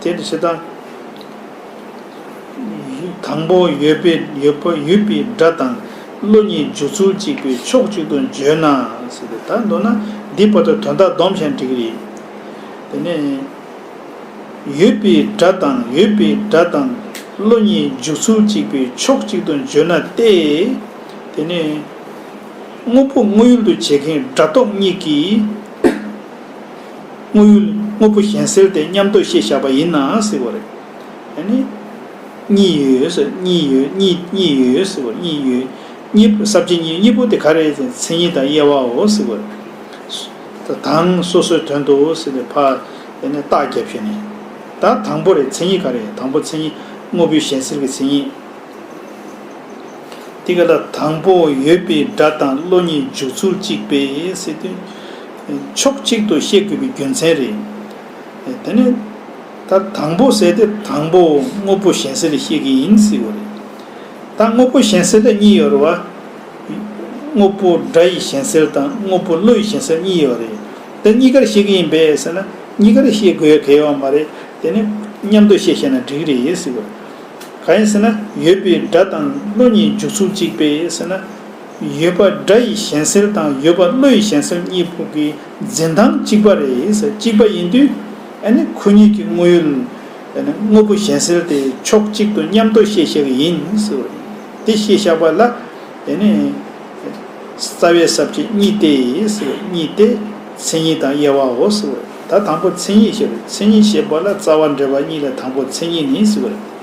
དེ་ནི་ཇི་ལྟར། དང་པོ་ཡོད་པའི་ཡོད་པ་ཡོད་པའི་སྒྲ་དང་བློ་གཉིས་འཇུག་ཚུལ་གཅིག་པའི་ཕྱོགས་གཅིག་ཏུ་བརྗོད་ན། ད་མདོར་ན་འདིའི་བར་དུ་དོན་དག་སྡོམ་ཞན་འགྲིག་རེད། དེ་ནས། ཡོད་པའི་སྒྲ་དང་ཡོད་པའི་སྒྲ་དང་བློ་གཉིས་འཇུག་ཚུལ་གཅིག་པའི་ཕྱོགས་གཅིག་ཏུ་བརྗོད་ན་སྟེ། དེ་ནས། དངོས་པོ་དངོས་ཡུལ་དུ་བྱེད་མཁན་སྒྲ་རྟོག་གཉིས་ཀྱིས། དངོས་ཡོད་དངོས་པོ་གཞན་སེལ་ཏེ་མཉམ་དུ་ཤེས་བྱ་བ་ཡིན་ནའང་སྲིད་པ་རེད། ཨེ་ནི། གཉིས་ཡོད་ཟེར་གཉིས་ཡོད་གཉིས་གཉིས་ཡོད་ཟེར་བ་གཉིས་ཡོད་གཉིས་པོ་ཟབ་ཆོས་གཉིས་གཉིས་པོ་དེ་ག་རེད་ཟེར་མཚན་ཉིད་དང་དབྱེ་བའོ་ཟེར་བ་རེད། ད་དང་སོ་སོའི་དོན་དུ་ཟེར་ནས་ཕ། ཨེ་ནི། རྟགས་བརྒྱབ་བྱས་ནས། ད་དང་པོ་རེད་མཚན་ཉིད་ག་རེད་དང་པོ་མཚན་ཉིད་དངོས་པོའི་གཞན་སེལ་གྱི་མཚན་ཉིད། དེ་ག་ལ་དང་པོ་ཡོད་པའི་སྒྲ་དང་བློ་གཉིས་འཇུག་ཚུལ་གཅིག་པས་སེལ་དོན། ཕྱོགས་གཅིག་ཏུ་བཤད་དགོས་པའི་རྒྱུ་མཚན་རེད། དེ་ནས། ད་དང་པོ་ཟེར་ཏེ་དང་པོ་དངོས་པོ་གཞན་སེལ་ལས་བཤད་མཁན་ཡིན་སྲིད་པ་རེད། ད་དངོས་པོ་གཞན་སེལ་ལས་གཉིས་ཡོད་རེད་བ། དངོས་པོ་སྒྲ་ཡི་གཞན་སེལ་དང་དངོས་པོ་བློ་ཡི་གཞན་སེལ་གཉིས་ཡོད་རེད། དེ་གཉིས་ཀར་བཤད་མཁན་ཡིན་པས་ཟེར་ན་གཉིས་ཀར་བཤད་དགོས་ཡ་གལ་ཡོད་མ་རེད། དེ་ནས་མཉམ་དུ་བཤད་བཤད་ན་འགྲིག་རེད་ཟེར་བ་རེད། གང་ཡིན་ཟེར་ན་ཡོད་པའི་སྒྲ་དང་བློ་གཉིས་འཇུག་ཚུལ་གཅིག་པས་ཟེར་ན། ཡོད་པ་སྒྲ་ཡི་གཞན་སེལ་དང་ཡོད་པ་བློ་ཡི་གཞན་སེལ་གཉིས་ཕུགས་ཀྱི་འཛིན་སྟངས་གཅིག་པ་རེད་གཅིག་པ་ཡིན་དུས་ཁོ་གཉིས་ཀྱི་དངོས་ཡོད་དངོས་པོ་གཞན་སེལ་དེ་ཕྱོགས་གཅིག་ཏུ་མཉམ་དུ་བཤད་ཤག་ཡིན་དེ་བཤད་ཤག་པ་ལ་རྩ་བའི་ཟབ་ཆོས་གཉིས་ཏེ་གཉིས་ཏེ་མཚན་ཉིད་དང་དབྱེ་བའོ་ད་དང་པོ་མཚན་ཉིད་ཞེས་པ་མཚན་ཉིད་ཞེས་པ་ལ་རྩ་བ་འབྲེལ་བ་གཉིས་ལས་དང་པོ་མཚན་ཉིད་ནི།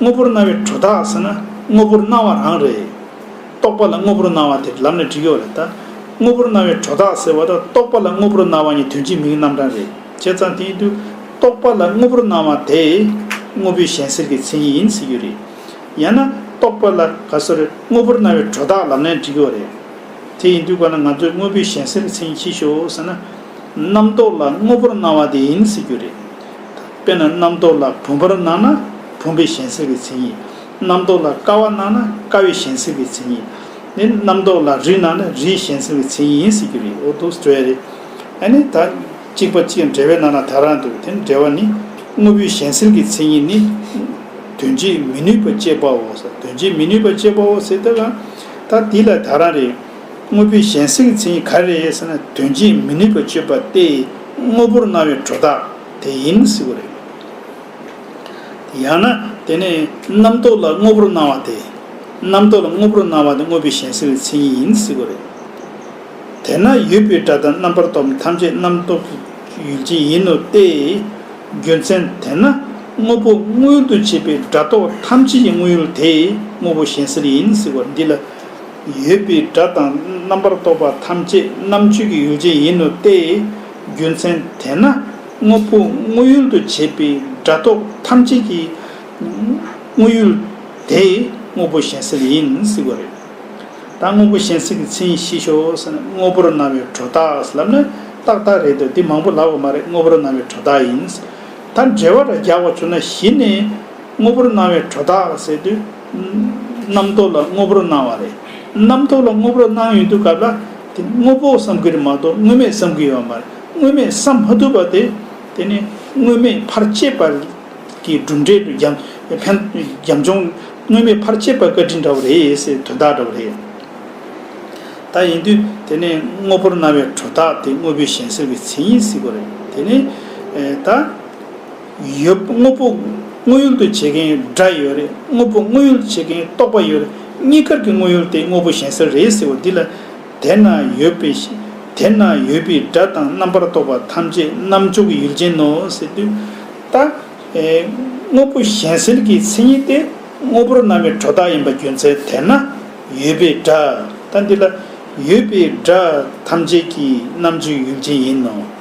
དངོས་པོར་སྣང་བའི་དྲོད་རྟགས་ཟེར་ན་དངོས་པོར་སྣང་བ་རང་རེད། རྟོག་པ་ལ་དངོས་པོར་སྣང་བ་དེར་ལམ་ནས་འགྲིག་ཡོད་རེད་ད། དངོས་པོར་སྣང་བའི་དྲོད་རྟགས་ཟེར་བ་དང་རྟོག་པ་ལ་དངོས་པོར་སྣང་བ་གཉིས་དོན་གཅིག་མིང་རྣམ་གྲངས་རེད། བྱས་ཙང་དེ་ཡིན་དུས་རྟོག་པ་ལ་དངོས་པོར་སྣང་བ་དེ། དངོས་པོའི་གཞན་སེལ་གྱི་མཚན་ཉིད་ཡིན་ཟེར་རྒྱུ་རེད། ཡང་ན། རྟོག་པ་ལ་ག་སོ་རེ་དངོས་པོར་སྣང་བའི་དྲོད་རྟགས་ལམ་ནས་འགྲིག་ཡོད་རེད། དེ་ཡིན་དུས་ག་ལ་ང་ཚོས་དངོས་པོའི་གཞན་སེལ་གྱི་མཚན་ཉིད་ཕྱིས་ཤོག་ཟེར་ན། རྣམ་རྟོག་ལ་དངོས་པོར་སྣང་བ་དེ་ཡིན་ཟེར་རྒྱུ་རེད། དཔེར་ན་རྣམ་རྟོག་ལ་བུམ་པར་སྣང་ན་བུམ་པའི་གཞན་སེལ་བའི་མཚན་ཉིད། རྣམ་རྟོག་ལ་དཀར་བར་སྣང་ན་དཀར་བའི་གཞན་སེལ་བའི་མཚན་ཉིད། ནི་རྣམ་རྟོག་ལ་རི་སྣང་ན་རིའི་གཞན་སེལ་བའི་མཚན་ཉིད་ཡིན་སྲིད་རྒྱུ་རེད་འོ་འདུག་འབྲེལ་བ་རེད། ཨ་ནི་ད་གཅིག་པ་གཅིག་འབྲེལ་བས་སྣང་ན་དག་ར་འདུག་དེ་འབྲེལ་བ་ནི། དངོས་པོའི་གཞན་སེལ་གྱི་མཚན་ཉིད་ནི། དོན་བྱེད་མི་ནུས་པ་དཔྱད་པའོ། དོན་བྱེད་མི་ནུས་པ་དཔྱད་པའོ་ཟེར་ཏེ། ད་འདི་ལ་དག་ར་རེད། དངོས་པོའི་གཞན་སེམས་ཅན་གྱི་ག་རེ་ཡིན་ཟེར་ན་དོན་བྱེད་མི་ནུས་པར་སྤྱོད་པ་སྟེ་དངོས་པོར་སྣང་བའི་གྲོལ་རྟགས་དེ་ཡིན་སྲིད་པ་རེད། ཡང་ན་དེ་ནི་རྣམ་རྟོག་ལ་དངོས་པོར་སྣང་བ་སྟེ། རྣམ་རྟོག་ལ་དངོས་པོར་སྣང་བ་དེ་དངོས་པོའི་གཞན་སེམས་ཀྱི་མཚན་ཉིད་ཡིན་སྲིད་པ་རེད། དེས་ན་ཡུལ་པའི་སྒྲ་དང་རྣམ་པར་རྟོག་པ་ཐམས་ཅད་རྣམ་རྟོག་གི་ཡུལ་ཅན་ཡིན་ནོ་སྟེ། རྒྱུ་མཚན་དེས་ན་དངོས་པོ་དངོས་ཡུལ་དུ་བྱེད་པའི་སྒྲ་རྟོག་ཐམས་ཅད་ཀྱི་དངོས་ཡུལ་དེ་དངོས་པོ་གཞན་སེམས་ཡིན་སྲིད་པ་འདི་ལ། ཡོད་པའི་སྒྲ་དང་རྣམ་པར་རྟོག་པ་ཐམས་ཅད་རྣམ་གཅོད་ཀྱི་ཡོ་བྱད་ཡིན་ནོ་སྟེ། རྒྱུ་མཚན་དེས་ན་དངོས་པོ་དངོས་ཡུལ་དུ་བྱེད་པའི་སྒྲ་རྟོག་ཐམས་ཅད་ཀྱི་དངོས་ཡུལ་དེ་དངོས་པོ་གཞན་སེལ་ཡིན་སྲིད་པ་རེད། ད་དངོས་པོ་གཞན་སེལ་གྱི་མཚན་ཉིད་ཤེས་ཤོག་ཟེར་ན་དངོས་པོར་སྣང་བའི་གྲོ་རྟགས་ལབ་ན་ཏག་ཏག་རེད་དོ་དེ་མང་པོ་ལབ་བ་མ་རེད་དངོས་པོར་སྣང་བའི་གྲོ་རྟགས་ཡིན། ད་འགྲེལ་བ་འདྲ་རྒྱག་པ་བྱུང་ན་གཞི་ནས་དངོས་པོར་སྣང་བའི་གྲོ་རྟགས་ཟེར་དུས། རྣམ་རྟོག་ལ་དངོས་པོར་སྣང་བ་རེད། རྣམ་རྟོག་ལ་དངོས་པོར་སྣང་ཡོང་དུས་སྐབས་ལ་དེ་དངོས་པོ་བསམ་གྱི་རེད་མ་གཏོགས་དངོས་མེད་བསམ་གྱི་ཡོད་མ་རེད། དངོས་མེད་བསམ་མ་ཐུབ་པ་དེ་དེ་ནི་དངོས་མེད་ཕར་བཅད་པ་གི་གྲུབ་འབྲས་དུ་འགྱམ་ཕན་འགྱམ་འཇོམས་དངོས་མེད་ཕར་བཅད་པ་བཀའ་དྲིན་འདྲ་བོ་རེད་ཟེར་དོན་དག་འདྲ་བོ་རེད། ད་ཡིན་དུས་དེ་ནི་དངོས་པོར་སྣང་བའི་གྲུབ་རྟགས་དེ་དངོས་པོའི་གཞན་སེལ་གྱི་མཚན་ཉིད་སྲིད་གོ་རེད་དེ་ནི་ད། ཡོད། དངོས་པོ་དངོས་ཡུལ་དུ་བྱེད་མཁན་སྒྲ་ཡོད་རེད། དངོས་པོ་དངོས་ཡུལ་དུ་བྱེད་མཁན་རྟོག་པ་ཡོད་རེད། གཉིས་ཀར་གྱི་དངོས་ཡུལ་དེ་དངོས་པོ་གཞན་ཟེར་རེད་ཟེར་བ་འདི་ལ། དེ་ན་ཡོད་པའི། དེ་ན་ཡོད་པའི་སྒྲ་དང་རྣམ་པར་རྟོག་པ་ཐམས་ཅད་རྣམ་འཇོག་གི་ཡུལ་ཅན་ནོ་ཟེར་དུས། ད། དངོས་པོ་གཞན་ཟེར་གྱི་མཚན་ཉིད་དེ་དངོས་པོར་སྣང་བའི་གྲོ་བདག་ཡིན་པ་རྒྱུ་མཚན་དེ་ན་ཡོད་པའི་སྒྲ། ད་འདི་ལ། ཡོད་པའི་སྒྲ་ཐམས་ཅད་ཀྱི་རྣམ་འཇོག་གི་ཡུལ་ཅན་ཡིན་ནོ།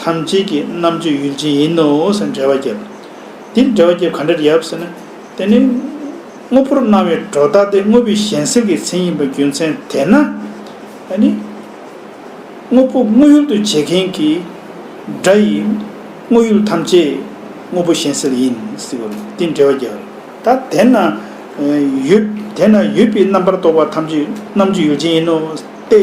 ཐམས་ཅད་ཀྱི་རྣམ་དཔྱོད་ཡུལ་ཅན་ཡིན་ནོ་ཟེར་འགྲེལ་བ་བརྒྱབ། འདིར་འགྲེལ་བ་བརྒྱབ་ག་འདྲར་ཡབ་ཟེར་ན། དེ་ནི། དངོས་པོར་སྣང་བའི་སྒྲོ་བཏགས་ཏེ་དངོས་པོའི་གཞན་སེལ་གྱི་མཚན་ཡིན་པ་རྒྱུ་མཚན་དེས་ན། ཨ་ནི། དངོས་པོ་དངོས་ཡུལ་དུ་བྱེད་མཁན་གྱི། སྒྲ་ཡིས། དངོས་ཡུལ་ཐམས་ཅད། དངོས་པོ་གཞན་སེལ་ཡིན། འདིར་འགྲེལ་བ་བརྒྱབ། ད་དེ་ན། ཡོད། དེ་ན་ཡོད་པའི་རྣམ་པར་རྟོག་པ་ཐམས་ཅད་རྣམ་དཔྱོད་ཡུལ་ཅན་ཡིན་ནོ། སྟེ།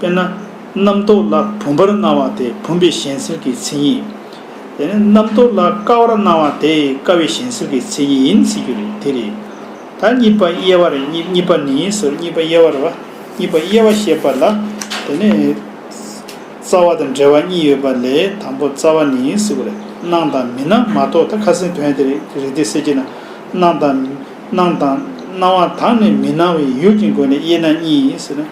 དཔེར་ན། རྣམ་རྟོག་ལ་བུམ་པར་སྣང་བ་དེ་བུམ་པའི་གཞན་སེལ་གྱི་མཚན་ཉིད། དེ་ནས་རྣམ་རྟོག་ལ་དཀར་བར་སྣང་བ་དེ་དཀར་བའི་གཞན་སེལ་གྱི་མཚན་ཉིད་ཡིན་ཟེར་རྒྱུ་རེད་དེ་རེད། ད་གཉིས་པ་དབྱེ་བ་རེད་གཉིས་པ་ནི་ཟེར་གཉིས་པ་དབྱེ་བ་རེད་བ། གཉིས་པ་དབྱེ་བ་ཞེས་པ་ལ་དེ་ནི། རྩ་བ་དང་འབྲེལ་བ་གཉིས་ཡོད་པ་ལས་དང་པོ་རྩ་བ་ནི་ཟེར་བ་རེད་སྣང་དང་མི་སྣང་མ་གཏོགས་ད་ཁ་སེང་དོན་དེ་རེད་དེ་ཟེར་གྱི་ན། སྣང་དང། སྣང་དང། སྣང་བ་དག་ནི་མི་སྣང་བའི་ཡུལ་གྱི་སྒོ་ནས་དབྱེ་ན་གཉིས་ཟེར།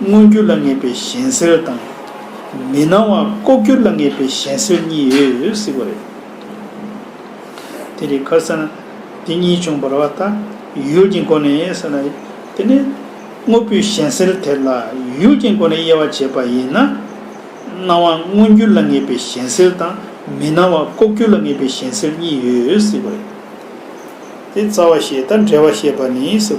མངོན་གྱུར་ལ་ངེས་པའི་གཞན་སེལ་དང། མི་སྣང་བ་ལྐོག་གྱུར་ལ་ངེས་པའི་གཞན་སེལ་གཉིས་ཡོད་སྲིད་པ་རེད། དེ་རིགས་ཁར་ས་ན་དེ་གཉིས་བྱུང་བར་བ་ལྟ་ཡུལ་གྱི་སྒོ་ནས་ས་ན་དེ་ནི་དངོས་པོའི་གཞན་སེལ་དེ་ལ་ཡུལ་གྱི་སྒོ་ནས་དབྱེ་བ་འབྱེད་པ་ཡིན་ན། སྣང་བ་མངོན་གྱུར་ལ་ངེས་པའི་གཞན་སེལ་དང་མི་སྣང་བ་ལྐོག་གྱུར་ལ་ངེས་པའི་གཞན་སེལ་གཉིས་ཡོད་སྲིད་པ་རེད། དེ་རྩ་བ་ཤེས་དང་འབྲེལ་བ་ཤེས་པ་ནི་ས།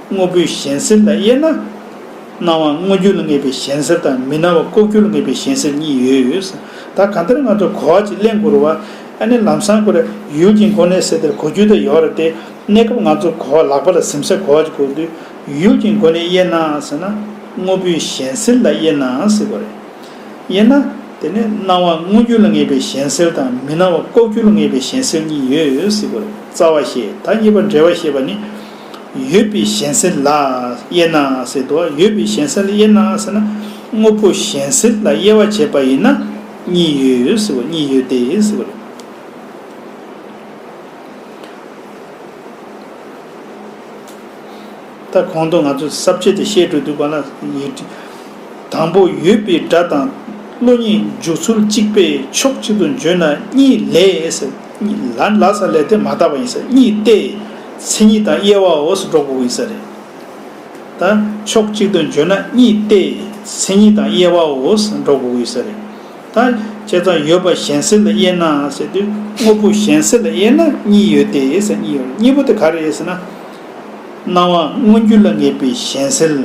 དངོས་པོའི་གཞན་སེལ་ལ་དབྱེ་ན། སྣང་བ་དངོས་རྒྱུ་ལ་ངེས་པའི་གཞན་སེལ་དང་མི་སྣང་བ་ལྐོག་གྱུར་ལ་ངེས་པའི་གཞན་སེལ་གཉིས་ཡོད། ད་གང་ལྟར་ང་ཚོ་གོ་བ་གཅིག་གླེང་དགོས་རུང་བ། ཨ་ནེ་ལམ་སང་གོ་རེ་ཡུལ་གྱི་མགོ་ནས་སེ་དེར་གོ་རྒྱུ་དེ་ཡོད་རེད་དེ། གནས་སྐབས་ང་ཚོ་གོ་བ་ལག་པ་ལ་ཟིམ་ས་གོ་བ་གཅིག་གོ་དུས་ཡུལ་གྱི་མགོ་ནས་དབྱེ་ན་ཟེར་ན། དངོས་པོའི་གཞན་སེལ་ལ་དབྱེ་ནའང་སྲིད་གོ་རེ། དབྱེ་ན། དེ་ནི་སྣང་བ་དངོས་རྒྱུ་ལ་ངེས་པའི་གཞན་སེལ་དང་མི་སྣང་བ་ལྐོག་གྱུར་ལ་ངེས་པའི་གཞན་སེལ་གཉིས་ཡོད་སྲིད་གོ་རེ། རྩ་བ་ཞེས་ད་གཉིས་པ་འབྲེལ་བ་ཞེས་པ་ནི། ཡོད་པའི་གཞན་སེལ་ལ་དབྱེ་ན་ཟེར་དུ་ཡོད་པའི་གཞན་སེལ་དབྱེ་ན་ཟེར་ན། དངོས་པོ་གཞན་སེལ་ལ་དབྱེ་བ་བྱས་པ་ཡིན་ན་གཉིས་ཡོད་ཟེར་བ་གཉིས་ཡོད་དེ་ཟེར་བ་རེད། ད་གོང་དུ་ང་ཚོས་གསར་བརྗེ་དེ་བཤད་འགྲོ་འདུག་པ་ལ་ཡིག་འབྲི། དང་པོ་ཡོད་པའི་སྒྲ་དང་བློ་གཉིས་འཇུག་ཚུལ་གཅིག་པས་ཕྱོགས་གཅིག་ཏུ་འཇོན་ན་གཉིས་ལས་ཟེར། ལ་ལ་ས་ལས་དེ་མ་དག་པ་ཡིན་ས་གཉིས་ཏེ། མཚན་ཉིད་དང་དབྱེ་བའོ་སོ་འགྲོགས་པོ་ཡིན་ས་རེད་ད། ཕྱོགས་གཅིག་ཏུ་བརྗོད་ན་གཉིས་ཏེ། མཚན་ཉིད་དང་དབྱེ་བའོ་སོ་འགྲོགས་པོ་ཡིན་ས་རེད་ད། བྱས་ཙང་ཡོད་པ་གཞན་སེལ་ལ་དབྱེ་ན་ཟེར་དུས་དངོས་པོ་གཞན་སེལ་ལ་དབྱེ་ན་གཉིས་ཡོད་དེ་ས་གཉིས་ཡོད་གཉིས་པོ་དེ་ག་རེད་ཟེར་ན། སྣང་བ་མངོན་རྒྱུ་ལ་ངེས་པའི་གཞན་སེལ།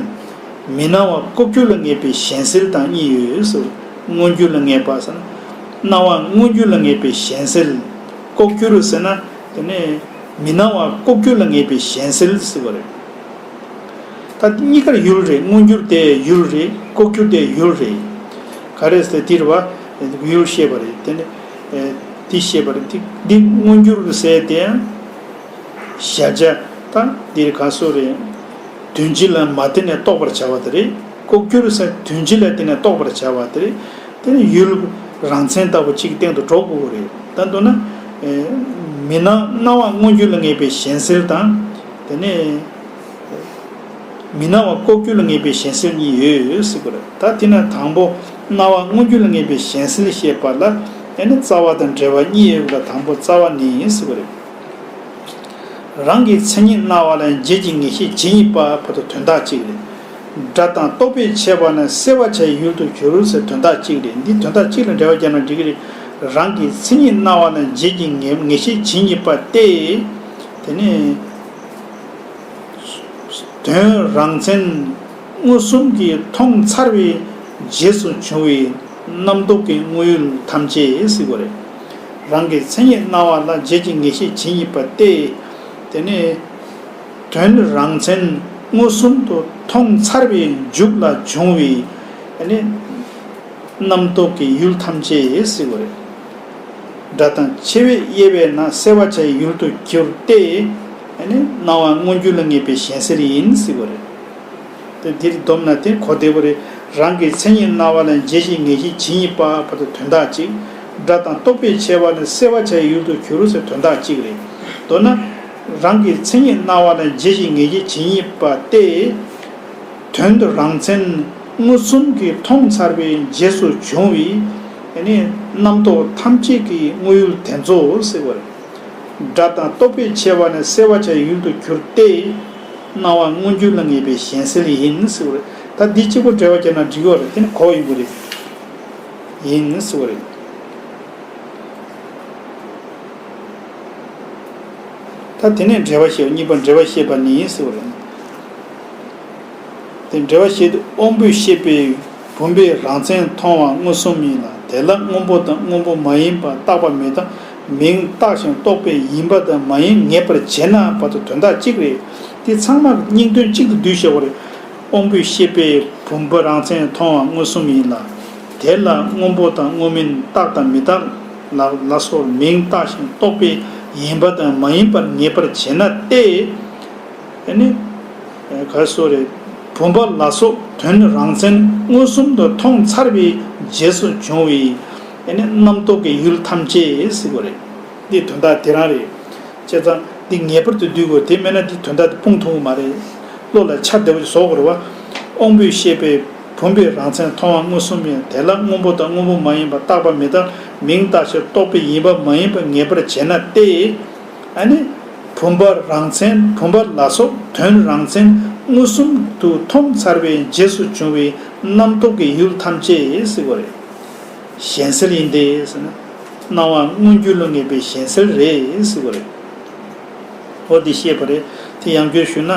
མི་སྣང་བ་རྐུབ་ཀྱོག་ལ་ངེས་པའི་གཞན་སེལ་དང་གཉིས་ཡོད་སོ། མངོན་རྒྱུ་ལ་ངེས་པ་ཟེར་ན། སྣང་བ་དངོས་རྒྱུ་ལ་ངེས་པའི་གཞན་སེལ། ལྐོག་གྱུར་རུ་ཟེར་ན་དེ་ནི་མི་སྣང་བ་ལྐོག་གྱུར་ལ་ངེས་པའི་གཞན་སེལ་དུ་ཟེར་བ་རེད། ད་གཉིས་ཀར་ཡུལ་རེད་དངོས་རྒྱུར་དེ་ཡུལ་རེད་ལྐོག་གྱུར་དེ་ཡུལ་རེད། ག་རེ་ཟེར་དེར་བ་ཡུལ་ཤེས་པ་རེད་དེ་དེ་ཤེས་པ་རེད་འདི་དངོས་རྒྱུར་རུ་ཟེར་དེ་ཡང་གཞལ་བྱ་ད་འདིར་ག་སོ་རེད། དོན་སྤྱི་ལ་མ་བརྟེན་ནས་རྟོགས་པར་བྱ་བ་དེ་རེད། ལྐོག་གྱུར་ཟེར་དོན་ཅི་ལ་དེ་ནས་རྟོགས་པར་བྱ་བ་དེ་རེད། དེ་ནི་ཡུལ་རང་མཚན་ལྟ་བུ་གཅིག་སྟེང་དུ་སྒྲོ་སྐུར་བ་རེད། ད་འདོད་ན། མི་སྣང་སྣང་བ་མངོན་གྱུར་ལ་ངེས་པའི་གཞན་སེལ་དང། དེ་ནས། མི་སྣང་བ་ལྐོག་གྱུར་ལ་ངེས་པའི་གཞན་སེལ་གཉིས་ཡོད་སྲིད་དགོས་རེད། ད་དེ་ན་དང་པོ་སྣང་བ་མངོན་གྱུར་ལ་ངེས་པའི་གཞན་སེལ་ཞེས་པ་ལ་དེ་ནི་རྩ་བ་དང་འབྲེལ་བ་གཉིས་ཡོད་ལ་དང་པོ་རྩ་བ་ནི་ཡིན་སྲིད་དགོས་རེད། རང་གི་མཚན་ཉིད་སྣང་བ་ལ་འབྱེད་ཀྱི་ངེས་ཤེས་ཇི་སྙེད་པ་བར་དུ་དོན་དག་གཅིག་རེད། སྒྲ་དང་རྟོག་པས་བྱས་པ་ན་སེལ་བར་བྱའི་ཡུལ་དུ་གྱུར་ཟེར་དོན་དག་གཅིག་རེད་འདི་དོན་དག་གཅིག་ལ་འགྲེལ་བ་བརྒྱབ་ན་འགྲིག་གི་རེད། རང་གི་མཚན་ཉིད་སྣང་བ་ན་རྗེས་ཀྱི་ངེས་ཤེས་ཇི་སྙེད་པ་སྟེ། དེ་ནི། དོན་རང་མཚན་མངོན་སུམ་གྱིས་མཐོང་ཚར་བའི་རྗེས་སུ་བྱུང་བའི་རྣམ་རྟོག་གི་དངོས་ཡུལ་ཐམས་ཅད་སིལ་བུ་རེད། རང་གི་མཚན་ཉིད་སྣང་བ་ན་རྗེས་ཀྱི་ངེས་ཤེས་ཇི་སྙེད་པ་སྟེ། དེ་ནི། དོན་རང་མཚན་མངོན་སུམ་དུ་མཐོང་ཚར་བའི་མཇུག་ལ་འབྱུང་བའི་རྣམ་རྟོག་གི་ཡུལ་ཐམས་ཅད་བསྲེ་བ་རེད། སྒྲ་དང་ཆེ་བས་དབྱེ་བས་ན་བསྲེ་བ་བྱའི་ཡུལ་དུ་གྱུར་ཏེ། སྣང་བ་མངོན་རྒྱུ་ལ་ངེས་པའི་ཞེན་སེལ་ཡིན་བསྲེ་བ་རེད། འདིར་བསྡོམས་ན་དེ་གོ་བདེ་བོ་རེད། རང་གི་མཚན་ཉིད་སྣང་བ་ལ་འཇལ་བྱེད་ངེས་ཤེས་ཇི་སྙེད་པ་བར་དུ་དོན་དག་གཅིག། སྒྲ་དང་རྟོག་པས་ཕྱེ་བ་ལ་བསྲེ་བ་བྱའི་ཡུལ་དུ་གྱུར་ཟེར་དོན་དག་གཅིག་རེད། མདོར་ན། རང་གི་མཚན་ཉིད་སྣང་བ་ན་རྗེས་ཀྱི་ངེས་ཀྱི་ཇི་སྙེད་པ་སྟེ། དོན་དུ་རང་མཚན་མངོན་སུམ་གྱིས་མཐོང་ཚར་བའི་རྗེས་སུ་བྱུང་བའི་རྣམ་རྟོག་ཐམས་ཅད་ཀྱི་དངོས་ཡུལ་དེ་ཚོ་སེལ་བར། སྒྲ་དང་རྟོག་པའི་ཆེ་བ་ནི་སེལ་བར་བྱ་ཡུལ་དུ་གྱུར་ཏེ། སྣང་བ་མངོན་གྱུར་ལ་ངེས་པའི་གཞན་སེལ་ཡིན་སེལ་བ་རེད། ད་འདི་གཅིག་པོ་འགྲེལ་བར་བྱས་ན་འགྲིག་གོ་རེད་དེ་ནི་གོ་ཡིན་པོ་རེད། ཡིན་སེལ་བ་རེད། ད་དེ་ནས་འབྲེལ་བ་ཞེས་པ་གཉིས་པ་འབྲེལ་བ་ཤེས་པ་ནི་ཡིན་ཟེར་བ་རེད། དེ་འབྲེལ་བ་ཤེས་ཏེ་དབང་པོའི་ཤེས་པས་བུམ་པའི་རང་མཚན་མཐོང་བ་མངོན་སུམ་ཡིན་ལ་དེ་ལ་སྔོན་པོ་དང་སྔོན་པོ་མ་ཡིན་པར་བཏགས་པ་མེད་དམ་མིང་བཏགས་ཤིང་རྟོགས་པས་ཡིན་པ་དང་མ་ཡིན་ངེས་པར་འབྱེད་ན་བར་དོ་དོན་དག་གཅིག་རེད། འདི་ཚང་མ་སྙིང་དོན་གཅིག་ཏུ་འདུས་ཤོག་བར། དབང་པོའི་ཤེས་པས་བུམ་པ་རང་མཚན་མཐོང་བ་མངོན་སུམ་ཡིན་ལ། དེ་ལ་སྔོན་པོ་དང་སྔོན་མིན་བཏགས་དང་མི་བཏགས། ནགས་ན་སོགས་མིང་བཏགས་ཤིང་རྟོག་པས་ཡིན་པ་དང་མ་ཡིན་པར་ངེས་པར་བྱེད་ན་སྟེ། བུམ་པ་ལ་སོགས་དོན་རང་མཚན་མངོན་སུམ་དུ་མཐོང་ཚར་བའི་རྗེས་སུ་བྱུང་བའི་རྣམ་རྟོག་གི་ཡུལ་ཐམས་ཅད་སྲིད་པ་རེད། འདི་དོན་དག་དེ་རང་རེད། བྱས་ཙང་འདི་ངེས་པར་དུ་བསྡུས་དགོས་དེ་མེད་ན་འདི་དོན་དག་དེ་སྤུངས་ཐུབ་ཀྱི་མ་རེད། བློ་ལ་འཆར་བདེ་བོ་ཞིག་བཟོ་དགོས་རེད་བ། དབང་པོས་ཤེས་པའི། བུམ་པའི་རང་མཚན་མཐོང་བ་མངོན་སུམ་ཡང་དེ་ལ་སྔོན་པོ་དང་སྔོན་པོ་མ་ཡིན་པར་བཏགས་པ་མི་དང་མིང་བཏགས་ཕྱིར་རྟོགས་པའི་ཡིན་པ་མ་ཡིན་པར་ངེས་པར་བྱེད་ན་སྟེ། ཨ་ནི། བུམ་པ་རང་མཚན་བུམ་པ་ལ་སོགས་དོན་རང་མཚན་མངོན་སུམ་དུ་མཐོང་ཚར་བའི་རྗེས་སུ་བྱུང་བའི་རྣམ་རྟོག་གི་ཡུལ་ཐམས་ཅད་གཟིགས་པ་རེད། གཞན་སེལ་ཡིན་ཏེ། སྣང་བ་མངོན་རྒྱུ་ལ་ངེས་པའི་གཞན་སེལ་རེད་གཟིགས་པ་རེད། འོ་འདི་ཤེས་པ་རེད། དེ་ཡང་བརྗོད་ཞུས་ན།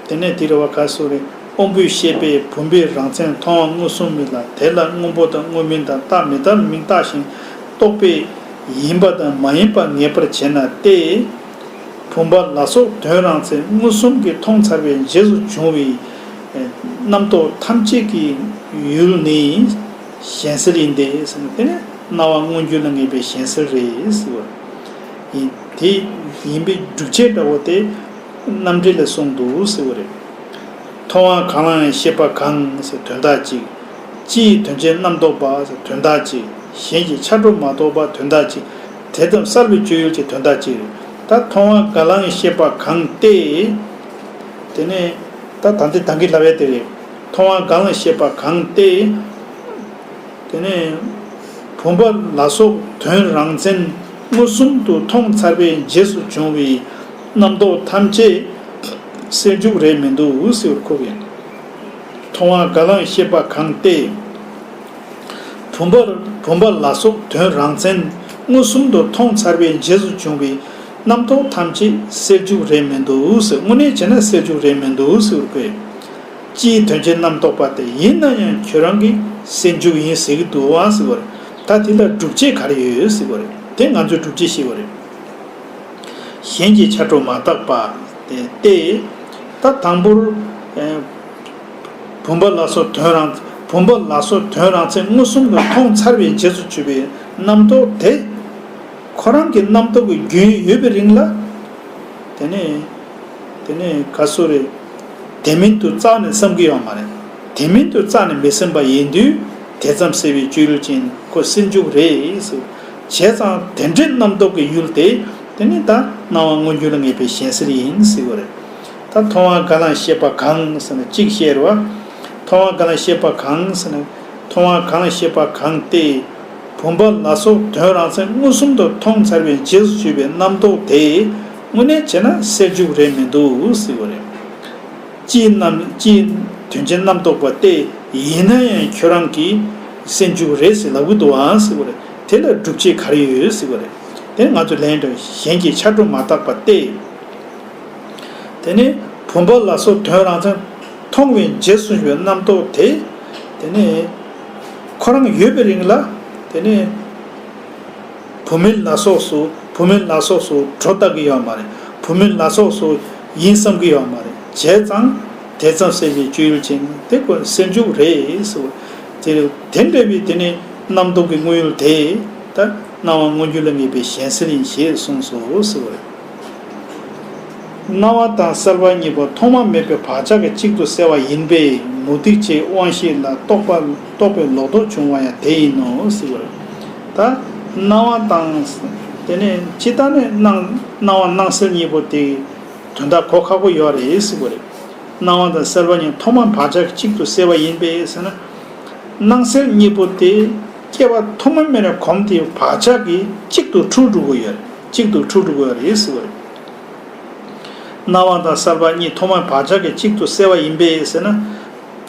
དེ་ནས་དེ་རེ་བ་ག་སོ་རེད། དབང་པོའི་ཤེས་པས་བུམ་པའི་རང་མཚན་མཐོང་བ་མངོན་སུམ་མིན་ལ་དེ་ལ་སྔོན་པོ་དང་དངོས་མིན་དང་རྟག་མི་རྟག་མིན་བརྟགས་ཤིང་རྟོགས་པས། ཡིན་པ་དང་མ་ཡིན་པ་ངེས་པར་བྱེད་ན་སྟེ། བུམ་པ་ལ་སོགས་དོན་རང་མཚན་མངོན་སུམ་གྱིས་མཐོང་ཚར་བའི་རྗེས་སུ་འབྱུང་བའི། རྣམ་རྟོག་ཐམས་ཅད་ཀྱི་ཡུལ་ནི། གཞན་སེལ་ཡིན་ཏེ། དེ་ནི་སྣང་བ་མངོན་གྱུར་ལ་ངེས་པའི་གཞན་སེལ་རེད། ཡིན། དེ་ཡིན་པའི་སྒྲུབ་བྱེད་འདྲ་བོ་སྟེ། རྣམ་འགྲེལ་ལས་གསུངས་འདུག་ཟེར་བ་རེད། མཐོང་བ་གང་ལའང་ཤེས་པ་གང་ཟེར་དོན་དག་ཅིག། སྤྱི་ཡི་དོན་ཅན་རྣམ་རྟོག་པ་ཟེར་དོན་དག་ཅིག་གཞན་གྱི་འཆར་སྒྲོ་མ་རྟོག་པ་དོན་དག་ཅིག་དེ་ཙམ་གསར་བའི་སྤྱོད་ཡུལ་གྱི་དོན་དག་ཅིག་རེད། ད་མཐོང་བ་གང་ལའང་ཤེས་པ་གང་སྟེ། དེ་ནས། ད་ད་འདི་དང་གི་ལ་བས་དེ་རེད། མཐོང་བ་གང་ལའང་ཤེས་པ་གང་སྟེ། དེ་ནས། བུམ་པ་ལ་སོགས་དོན་རང་མཚན། མངོན་སུམ་དུ་མཐོང་ཚར་བའི་རྗེས་སུ་བྱུང་བའི། རྣམ་རྟོག་ཐམས་ཅད་སེལ་འཇུག་རེད་མི་འདུག་འུ་སེའུར་ཁུག་ཡིན། མཐོང་བ་དགའ་ལངས་ཤེས་པ་གང་བལྟས་ཡིན། བུམ་པ་བུམ་པ་ལ་སོགས་དོན་རང་མཚན་མངོན་སུམ་དུ་མཐོང་ཚར་བའི་རྗེས་སུ་བྱུང་བའི་རྣམ་རྟོག་ཐམས་ཅད་སེལ་འཇུག་རེད་མི་འདུག་འུ་སེའུ་དངོས་གནས་བྱས་ན་སེལ་འཇུག་རེད་མི་འདུག་འུ་སེའུར་ཁུག་ཡིན། སྤྱིའི་དོན་སྤྱིའི་རྣམ་རྟོག་པ་དེ་ཡིན་ན་ཡང་ཁྱོད་རང་གིས་སེལ་འཇུག་ཡིན་ཟེར་གྱི་འདུག་འུ་སེའུ་རེད། ད་དེ་ལ་སྒྲུབ་བྱེད་ག་རེ་ཡོད་འུ་སེའུ་རེད། དེ་ང་ཚོས་སྒྲུབ་བྱེད་ཤེས་དགོས་རེད། གཞན་གྱི་འཕྱ་འཕྲོ་མ་བརྟགས་པ། སྟེ། ད་དང་པོར། བུམ་པ་ལ་སོགས་དོན་རང། བུམ་པ་ལ་སོགས་དོན་རང་ཚད་མངོན་སུམ་དུ་མཐོང་ཚར་བའི་རྗེས་སུ་ཆུད་པའི་རྣམ་རྟོག་དེ། ཁོ་རང་གི་རྣམ་རྟོག་གི་རྒྱུན་ཡོད་པའི་རིང་ལ། དེ་ནས། དེ་ནས་ག་སུ་རེད། དེ་མིན་དུ་རྩ་ནས་བསམ་གི་ཡོད་མ་རེད། དེ་མིན་དུ་རྩ་ནས་མི་སེམས་པ་ཡིན་དུས་དེ་ཙམ་སེལ་བའི་སྤྱོད་ལུགས་ཅན་ཁོ་སེམས་འཇུག་རེད། བྱས་ཙང་དེ་འདྲའི་རྣམ་རྟོག་གི་ཡུལ་དེ་དེ་ནི་ད་སྣང་བ་མངོན་གྱུར་ལ་ངེས་པའི་གཞན་སེལ་ཡིན་སྲིད་པ་རེད། ད་མཐོང་བ་འགའ་ལ་ཤེས་པ་གང་ཟེར་ན་གཅིག་བཤད་རོགས། མཐོང་བ་འགའ་ལ་ཤེས་པ་གང་ཟེར་ན། མཐོང་བ་གང་ལ་ཤེས་པ་གང་སྟེ། བུམ་པ་ལ་སོགས་དོན་རང་མཚན་མངོན་སུམ་དུ་མཐོང་ཚར་བའི་རྗེས་སུ་ཆུད་པའི་རྣམ་རྟོག་དེ་དངོས་གནས་བྱས་ན་སེལ་འཇུག་རེད་མི་འདུག་སྲིད་པ་རེད། སྤྱིའི་རྣམ་སྤྱིའི་དོན་སྤྱི་རྣམ་རྟོག་པ་སྟེ་ཡིན་ན་ཡང་ཁྱོད་རང་གིས་སེལ་འཇུག་རེད་ཟེར་ལབ་གི་འདུག་ཨང་སྲིད་པ་རེད། དེ་ལ་སྒྲུབ་བྱེད་གར་ཡོད་ཟེར་བ་རེད། དེ་ང་ཚོས་ལན་དུ་གཞན་གྱིས་ཕྱར་གྲུ་མ་བཏགས་པ་སྟེ། དེ་ནི་བུམ་པ་ལ་སོགས་དོན་རང་མཚན་མཐོང་བའི་རྗེས་སུ་བྱུང་བའི་རྣམ་རྟོག་དེ། དེ་ནི་ཁོ་རང་ཡོད་པའི་རིང་ལ་དེ་ནི་བུམ་མིན་ལ་སོགས་སུ་བུམ་མིན་ལ་སོགས་སུ་གྲོ་བཏགས་ཀྱི་ཡོད་མ་རེད། བུམ་མིན་ལ་སོགས་སུ་ཡིན་བསམ་གྱི་ཡོད་མ་རེད། བྱས་ཙང་དེ་ཙམ་སེམས་ཀྱི་སྤྱོད་ཡུལ་ཅན་དེ་ཁོ་ནི་སེམས་འཇུག་རེད་ཟེར་བ། དེ་རེད། དེ་འདྲ་བའི་དེ་ནི་རྣམ་རྟོག་གི་དངོས་ཡུལ་དེ། ད་སྣང་བ་མངོན་གྱུར་ལ་ངེས་པའི་གཞན་སེལ་ཡིན་ཞེས་གསུངས་སོ་ཟེར་བ་རེད། སྣང་བ་དང་སེལ་བ་གཉིས་པོ་ཐོག་མ་མེད་པའི་བག་ཆགས་ཀྱི་གཅིག་ཏུ་བསྲེ་བ་ཡིན་པས་མུ་སྟེགས་བྱའི་དབང་ཤེས་ལ་རྟོག་པ་རྟོག་པའི་ལོག་རྟོག་འབྱུང་བ་ཡང་དེ་ཡིན་ནོ་ཟེར་བ་རེད། ད་སྣང་བ་དང། དེ་ནི་ཅི་ལྟར་ནས་སྣང་སྣང་བ་སྣང་སེལ་གཉིས་པོ་དེ། དོན་དག་གོ་ཁག་པོ་ཡོད་རེད་ཟེར་བ་རེད། སྣང་བ་དང་གསལ་བ་གཉིས་ཐོག་མ་བག་ཆགས་གཅིག་ཏུ་བསྲེ་བ་ཡིན་པས་ཟེར་ན། སྣང་གསལ་གཉིས་པོ་དེ་སྐྱེ་བ་ཐོག་མ་མེད་ནས་གོམས་དེའི་བག་ཆགས་ཀྱིས་གཅིག་ཏུ་འཁྲུལ་འགྲོ་གི་ཡོད་རེད་གཅིག་ཏུ་འཁྲུལ་འགྲོ་གི་ཡོད་རེད་ཟེར་བ་རེད། སྣང་བ་དང་གསལ་བ་གཉིས་ཐོག་མ་བག་ཆགས་ཀྱིས་གཅིག་ཏུ་བསྲེ་བ་ཡིན་པས་ཟེར་ན།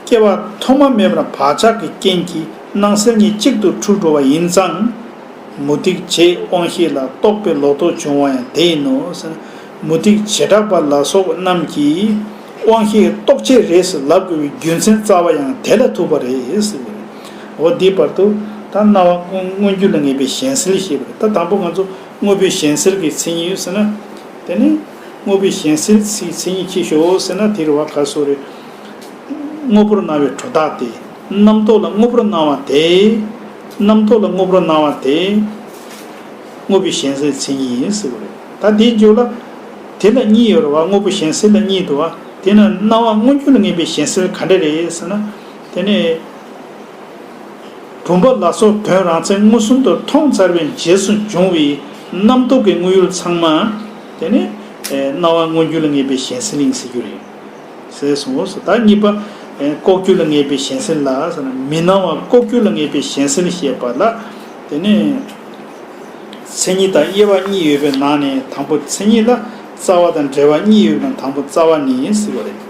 སྐྱེ་བ་ཐོག་མ་མེད་པར་བག་ཆགས་ཀྱི་རྐྱེན་གྱིས་སྣང་གསལ་གཉིས་གཅིག་ཏུ་འཁྲུལ་འགྲོ་བ་ཡིན་ཙང། མུ་སྟེགས་བྱེད་དབང་ཤེས་ལ་རྟོག་པའི་ལོག་རྟོག་འབྱུང་བ་ཡང་དེ་ཡིན་ནོ་ཟེར་ན། མུ་ཏིག་བྱེ་བྲག་པ་ལ་སོགས་པ་རྣམས་ཀྱིས་དབང་ཤེས་རྟོགས་བྱེད་རེས་སུ་ལབ་དགོས་པའི་རྒྱུ་མཚན་རྩ་བ་ཡང་དེ་ལ་ཐུག་པ་རེད། འོ་དེའི་བར་དུ་ད་སྣང་བ་ཀུན་མངོན་རྒྱུད་ལ་ངེས་པའི་གཞན་སེལ་ཞེས་པ་རེད་ད་དང་པོ་ང་ཚོ་དངོས་པོའི་གཞན་སེལ་གྱི་མཚན་ཉིད་ཡོད་ཟེར་ན། དེ་ནས་དངོས་པོའི་གཞན་སེལ་གྱི་མཚན་ཉིད་ཁྱེར་ཞོག་ཟེར་ན་དེ་རུ་བ་ག་སོགས་རེད། དངོས་པོར་སྣང་བའི་གྲོ་དག་དེ་རྣམ་རྟོག་ལ་དངོས་པོར་སྣང་བ་དེ། རྣམ་རྟོག་ལ་དངོས་པོར་སྣང་བ་དེ། དངོས་པོའི་གཞན་སེལ་མཚན་ཉིད་ཡིན་ཟེར་བ་རེད། ད་དེའི་རྒྱུ་ལ། དེ་ལ་གཉིས་ཡོད་རེད་བ་དངོས་པོ་གཞན་སེལ་ལ་གཉིས་འདུག་བ། དེས་ན་སྣང་བ་མངོན་གྱུར་ལ་ངེས་པའི་གཞན་སེལ་ག་འདྲ་རེད་ཟེར་ན། དེ་ནི། བུམ་པ་ལ་སོགས་དོན་རང་མཚན་མངོན་སུམ་དུ་མཐོང་ཚར་བའི་རྗེས་སུ་འབྱུང་བའི་རྣམ་རྟོག་གི་དངོས་ཡུལ་ཚང་མ། དེ་ནི། སྣང་བ་མངོན་གྱུར་ལ་ངེས་པའི་གཞན་སེལ་ཡིན་ཟེར་རྒྱུ་རེད། ཟས་སུ་ངོ། ཟླ་གཉིས་པ། ལྐོག་གྱུར་ལ་ངེས་པའི་གཞན་སེལ་ལ། མི་སྣང་བ་ལྐོག་གྱུར་ལ་ངེས་པའི་གཞན་སེལ་བཤད་པ་ལ། དེ་ནས། མཚན་ཉིད་དང་དབྱེ་བ་གཉིས་ཡོད་པའི་ནང་ནས་དང་པོ་མཚན་ཉིད་ལ། རྩ་བ་དང་འབྲེལ་བ་གཉིས་ཡོད་པའི་ནང་དང་པོ་རྩ་བ་ནི་སྲིད་པ་རེད།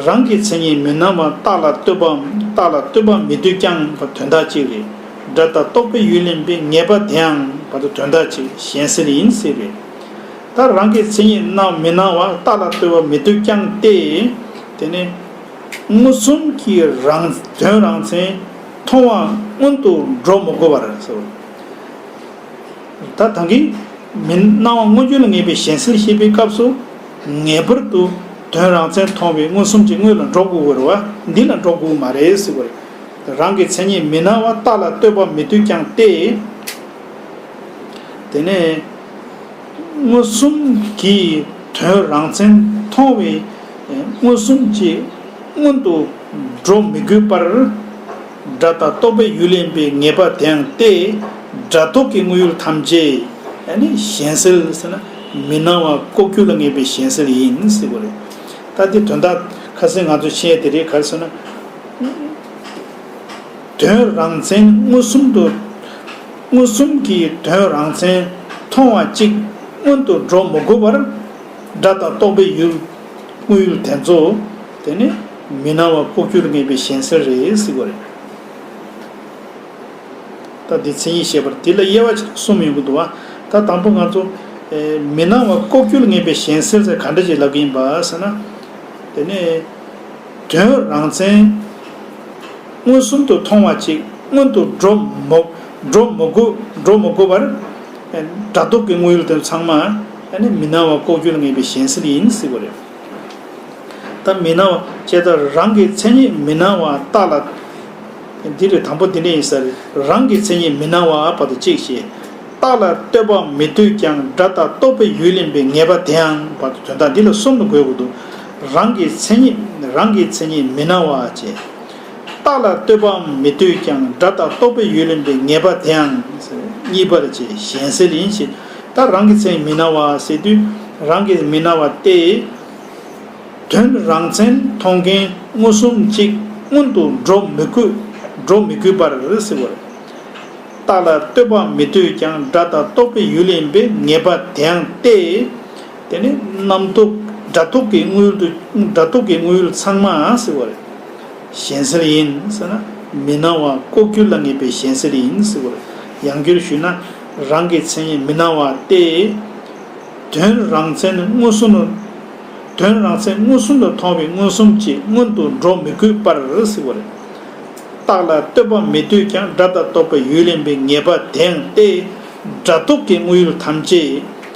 རང་གི་མཚན་ཉིད་མི་སྣང་བ་རྟགས་ལ་ལྟོས་པའམ་རྟགས་ལ་ལྟོས་པ་མི་འདོད་ཀྱང་བར་དོན་དག་ཅིག་རེད། སྒྲ་དང་རྟོག་པའི་ཡུལ་ལེན་པའི་ངེས་པ་དེའང་བར་དོན་དག་ཅིག་གཞན་སེལ་ཡིན་སྲིད་རེད། ད་རང་གི་མཚན་ཉིད་རྣམས་མི་སྣང་བ་རྟགས་ལ་ལྟོས་པ་མི་སྡུག་ཀྱང་སྟེ། དེ་ནི་མངོན་སུམ་གྱི་རང་དོན་རང་མཚན་མཐོང་བ་སྔོན་དུ་འགྲོ་མི་དགོས་པར་སོ། ད་དང་གི་མི་སྣང་བ་མངོན་བརྗོད་ལ་ངེས་པའི་གཞན་སེལ་ཤེས་པའི་སྐབས་སུ། ངེས་པར་དུ་དོན་རང་མཚན་མཐོང་བའི་མངོན་སུམ་གྱི་དངོས་ལ་འགྲོ་དགོས་བར་བ་འདི་ལ་འགྲོ་དགོས་མ་རེད་ཟེར་བར། རང་གི་མཚན་ཉིད་མི་སྣང་བ་རྟགས་ལ་ལྟོས་པ་མི་སྡུག་ཀྱང་སྟེ། དེ་ནི། མངོན་སུམ་གྱིས་དོན་རང་མཚན་མཐོང་བས་མངོན་སུམ་གྱིས་སྔོན་དུ་འགྲོ་མི་དགོས་པར། སྒྲ་དང་རྟོག་པའི་ཡུལ་ལེན་པའི་ངེས་པ་དེའང་སྟེ། སྒྲ་རྟོག་གི་དངོས་ཡུལ་ཐམས་ཅད་ནི་གཞན་སེལ་ཟེར་ན་མི་སྣང་བ་ལྐོག་གྱུར་ལ་ངེས་པའི་གཞན་སེལ་ཡིན་ཟེར་བ་རེད། ད་དེ་དོན་དག་ཁ་སེང་ང་ཚོས་ཤེས་ཡས་དེ་རེད་ག་ལ་ཟེར་ན། དོན་རང་མཚན་མངོན་སུམ་དུ། མངོན་སུམ་གྱིས་དོན་རང་མཚན་མཐོང་བ་གཅིག་སྔོན་དུ་འགྲོ་མི་དགོས་པར། སྒྲ་དང་རྟོག་པའི་ཡུལ་དངོས་ཡུལ་དེ་ཚོ་དེ་ནི་མི་སྣང་བ་ལྐོག་གྱུར་ངེས་པའི་གཞན་སེལ་རེད་གཟིགས་པ་རེད། ད་འདི་མཚན་ཉིད་ཞེས་པར་འདི་ལ་དབྱེ་བ་ཆེན་པོ་གསུམ་ཡོད་ཀྱི་འདུག་བ། ད་དང་པོ་ང་ཚོ། མི་སྣང་བ་ལྐོག་གྱུར་ངེས་པའི་གཞན་སེལ་ཟེར་ག་འདྲ་ཞིག་ལབ་ཀྱི་ཡིན་པ་ཟེར་ན། དེ་ནི་དོན་རང་མཚན། མངོན་སུམ་དུ་མཐོང་བ་ཅིག་སྔོན་དུ་འགྲོ། འགྲོ་མི་དགོས་འགྲོ་མི་དགོས་པར། སྒྲ་རྟོག་གི་དངོས་ཡུལ་དེ་ཚང་མ། མི་སྣང་བ་ལྐོག་གྱུར་ངེས་པའི་གཞན་སེལ་ཡིན་སྲིད་པ་རེད། ད་མི་སྣང་བ་ཅེས་ད་རང་གི་མཚན་ཉིད་མི་སྣང་བ་ལྟ་ལ། འདི་རེད་དང་པོ་འདི་འདྲ་ཡིན་ས་རེད་རང་གི་མཚན་ཉིད་མི་སྣང་བ་བ་ཏུ་གཅིག་ཞེས། རྟགས་ལ་ལྟོས་པ་མི་ལྟོས་ཀྱང་སྒྲ་དང་རྟོག་པའི་ཡུལ་ལེན་པའི་ངེས་པ་དེའང་བ་ཏུ་དོན་དག་འདི་ལ་གསུམ་དུ་འགོད་དགོས་འདུག་རང་གི་མཚན་ཉིད་རང་གི་མཚན་ཉིད་མི་སྣང་བ་ཅེས། རྟགས་ལ་ལྟོས་པའམ་མི་ལྟོས་ཀྱང་སྒྲ་དང་རྟོག་པའི་ཡུལ་ལེན་པའི་ངེས་པ་དེའང་གཉིས་པར་བྱས་གཞན་སེལ་ཡིན་ཞེས་ད་རང་གི་མཚན་མི་སྣང་བ་ཟེར་དུས་རང་གི་མི་སྣང་བ་སྟེ། དོན་རང་མཚན་མཐོང་མཁན་མངོན་སུམ་གཅིག་མངོན་དུ་འགྲོ་མི་དགོས་འགྲོ་མི་དགོས་པར་ཟེར་བ་རེད། རྟགས་ལ་ལྟོས་པའམ་མི་ལྟོས་ཀྱང་སྒྲ་དང་རྟོག་པའི་ཡུལ་ལེན་པའི་ངེས་པ་དེའང་སྟེ། དེ་ནི་རྣམ་རྟོག་སྒྲ་རྟོག་གི་དངུལ་དུ་སྒྲ་རྟོག་གི་དངུལ་ཚང་མ་བསྲེ་བ་རེད། གཞན་སེལ་ཡིན་ཟེར་ན་མི་སྣང་བ་ལྐོག་གྱུར་ལ་ངེས་པའི་གཞན་སེལ་ཡིན་ཟེར་བར་ཡང་བསྒྱུར་ཞུས་ན་རང་གི་མཚན་ཉིད་མི་སྣང་བ་སྟེ། དོན་རང་མཚན་མངོན་སུམ་ལ་དོན་རང་མཚན་མངོན་སུམ་ལ་མཐོང་བའི་མངོན་སུམ་གྱིས་སྔོན་དུ་འགྲོ་མི་དགོས་པར་ཟེར་བ་རེད། རྟགས་ལ་ལྟོས་པ་མི་ལྟོས་ཀྱང་སྒྲ་དང་རྟོག་པའི་ཡུལ་ལེན་པའི་ངེས་པ་དེའང་སྟེ། སྒྲ་རྟོག་གི་དངུལ་ཡུལ་ཐམས་ཅད།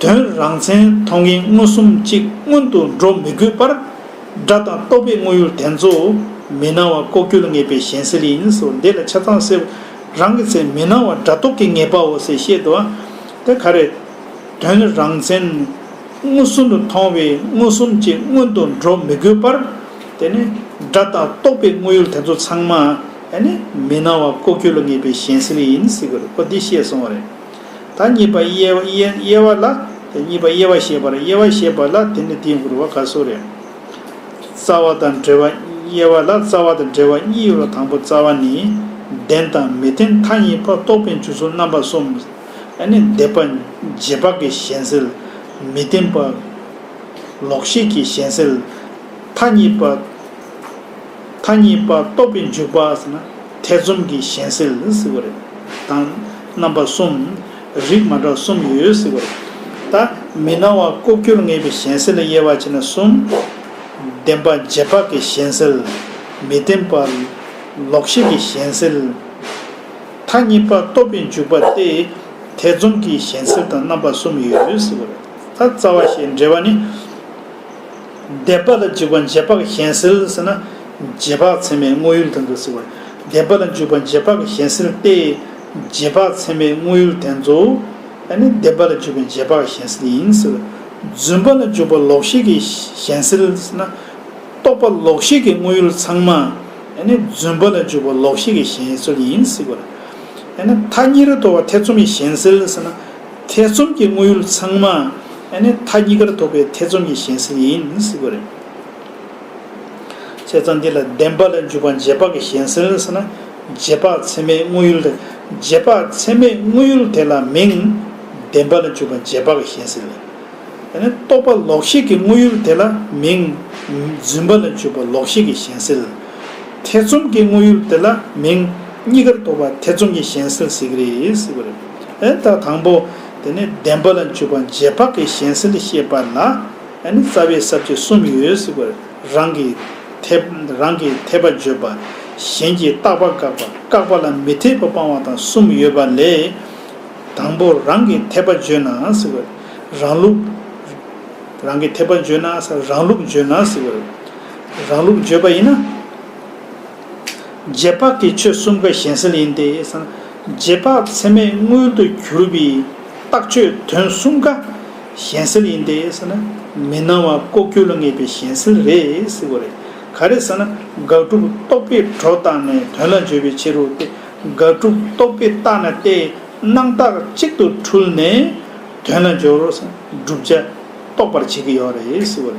དོན་རང་མཚན་མཐོང་མཁན་མངོན་སུམ་གཅིག་མངོན་དུ་འགྲོ་མི་དགོས་པར། སྒྲ་དང་རྟོག་པའི་དངོས་ཡུལ་དེ་ཚོ་མི་སྣང་བ་ལྐོག་གྱུར་ངེས་པའི་གཞན་སེལ་ཡིན། འདི་ལ་ཆ་ཚང་བསྲེ་བ་རང་གི་ཚེ་མི་སྣང་བ་སྒྲ་རྟོག་གི་ངེས་པའོ་ཟེར་བཤད་དོ། དེ་ག་རེད། དོན་རང་མཚན་མངོན་སུམ་དུ་མཐོང་བའི་མངོན་སུམ་གཅིག་མངོན་དུ་འགྲོ་མི་དགོས་པར། དེ་ནི་སྒྲ་དང་རྟོག་པའི་དངོས་ཡུལ་དེ་ཚོ་ཚང་མ། མི་སྣང་བ་ལྐོག་གྱུར་ལ་ངེས་པའི་གཞན་སེལ་ཡིན། འོ་འདི་བཤད་སོང་བ་རེད། ད་གཉིས་པ་དབྱེ་བ་ལ། དེ་གཉིས་པ་དབྱེ་བ་ཞེས་པ་ལ་དབྱེ་བ་ཞེས་པ་ལ་དེ་ནི་དེའི་འགོར་བ་ག་སོགས་རེད། རྩ་བ་དང་འབྲེལ་བ། དབྱེ་བ་ལ་རྩ་བ་དང་འབྲེལ་བ་གཉིས་ཡོད་ལ་དང་པོ་རྩ་བ་ནི། བདེན་དང་མི་བདེན་མཐའ་གཉིས་པ་རྟོགས་པའི་འཇུག་ཚུལ་རྣམ་པ་གསུམ། ནི་འདས་པ་རྗེས་དཔག་གི་གཞན་སེལ། མི་བདེན་པ། ལོག་ཤེས་ཀྱི་གཞན་སེལ། མཐའ་གཉིས་པ། མཐའ་གཉིས་པ་རྟོགས་པའི་འཇུག་པ་ཟེར་ན་ཐེ་ཚོམ་གྱི་གཞན་སེལ་ཟེར་བ་རེད། དང། རྣམ་པ་གསུམ། རིགས་མ་འདྲ་གསུམ་ཡོད་ཟེར་བ་རེད། ད། མི་སྣང་བ་ལྐོག་གྱུར་ངེས་པའི་གཞན་སེལ་ལ་དབྱེ་བ་ཕྱེ་ན་གསུམ། བདེན་པ་རྗེས་དཔག་གི་གཞན་སེལ། མི་བདེན་པ། ལོག་ཤེས་ཀྱི་གཞན་སེལ། མཐའ་གཉིས་པ་རྟོགས་པའི་འཇུག་པ་སྟེ། ཐེ་ཚོམ་གྱི་གཞན་སེལ་དང་རྣམ་པ་གསུམ་ཡོད་ཟེར་བ་རེད། ད་རྩ་བ་ཞེས་འབྲེལ་བ་ནི། བཟླས་པ་ལ་འཇུག་པ་རྗེས་དཔག་གཞན་སེལ་ཟེར་ན། རྗེས་དཔག་མཚན་མའི་དངོས་ཡུལ་དོན་དུ་བསྲེ་བ། བཟླས་པ་ལ་འཇུག་པ་རྗེས་དཔག་གཞན་སེལ་ཏེ། རྗེས་དཔག་མཚན་མའི་དངོས་ཡུལ་དོན་དུ། ཨ་ནི་བཟླས་པ་ལ་འཇུག་པའི་རྗེས་དཔག་གཞན་སེལ་ཡིན་ཟེར། བརྫུན་པ་ལ་འཇུག་པ་ལོག་ཤེས་ཀྱི་གཞན་སེལ་ཟེར་ན། རྟོག་པ་ལོག་ཤེས་ཀྱི་དངོས་ཡུལ་ཚང་མ། ཨ་ནི་བརྫུན་པ་ལ་འཇུག་པ་ལོག་ཤེས་ཀྱི་གཞན་སེལ་ཡིན་ཟེར། ཨ་ནི་མཐའ་གཉིས་རེ་དོར་བ་ཐེ་ཚོམ་གྱི་གཞན་སེལ་ཟེར་ན། ཐེ་ཚོམ་གྱི་དངོས་ཡུལ་ཚང་མ་ཨ་ནི་མཐའ་གཉིས་ཀར་ཐོབ་པའི་ཐེ་ཚོམ་གྱི་གཞན་སེལ་ཡིན་སྲིད་པ་རེད། བྱས་ཙང་འདི་ལ་བདེན་པ་ལ་འཇུག་པ་རྗེས་དཔག་གི་གཞན་སེལ་ཟེར་ན་རྗེས་དཔག་ཚད་མའི་དངོས་ཡུལ་རེད། རྗེས་དཔག་ཚད་མའི་དངོས་ཡུལ་དེ་ལ་མིང། བདེན་པ་ལ་འཇུག་པ་རྗེས་དཔག་གི་གཞན་སེལ། ཨ་ནི་རྟོག་པ་ལོག་ཤེས་ཀྱི་དངོས་ཡུལ་དེ་ལ་མིང། བརྫུན་པ་ལ་འཇུག་པ་ལོག་ཤེས་ཀྱི་གཞན་སེལ། ཐེ་ཚོམ་གྱི་དངོས་ཡུལ་དེ་ལ་མིང། གཉིས་ཀར་ཐོབ་པ་ཐེ་ཚོམ་གྱི་གཞན་སེལ་ཟེར་གྱི་རེད་སྲིད་པ་རེད། ཨེ་ད་དང་པོ། དེ་ནས་བདེན་པ་ལ་འཇུག་པ་རྗེས་དཔག་གི་གཞན་སེལ་ལས་ཤེས་པ་ལ། ཨེ་ནི་རྩ་བའི་ས་བཅད་གསུམ་ཡོད་ཟེར་བའི་རང་གི་འཐད། རང་གི་འཐད་པ་བརྗོད་པ། གཞན་གྱིས་བརྟག་པ་བཀག་པ་བཀག་པ་ལ་མི་འཐད་པ་སྤང་བ་དང་གསུམ་ཡོད་པ་ལས། དང་པོ་རང་གི་འཐད་པ་བརྗོད་ན་ཟེར་བའི་རང་ལུགས། རང་གི་འཐད་པ་བརྗོད་ན་ཟེར་བའི་རང་ལུགས་བརྗོད་ན་ཟེར་བའི་རང་ལུགས་བརྗོད་པ་ཡིན་ན། རྗེས་དཔག་གི་ཆོས་གསུམ་ཀ་གཞན་སེལ་ཡིན་ཏེ། རྗེས་དཔག་ཚད་མས་མངོན་དུ་གྱུར་པའི་རྟགས་ཆོས་དོན་གསུམ་ཀ་གཞན་སེལ་ཡིན་ཏེ། མི་སྣང་བ་ལྐོག་གྱུར་ལ་ངེས་པའི་གཞན་སེལ་རེད། ག་རེ་ཟེར་ན་དགག་སྒྲུབ་རྟོག་པས་གྲོགས་བཏགས་ནས་དོན་ལ་འཇོལ་བའི་ཕྱིར་རོ་སྟེ། དགག་སྒྲུབ་རྟོག་པས་བཏགས་ན་ལྟས་སྣང་རྟགས་གཅིག་ཏུ་འཁྲུལ་ནས་དོན་ལ་འཇོལ་བར་བསྒྲུབ་བྱ་རྟོགས་པར་བྱེད་ཀྱི་ཡོད་རེད།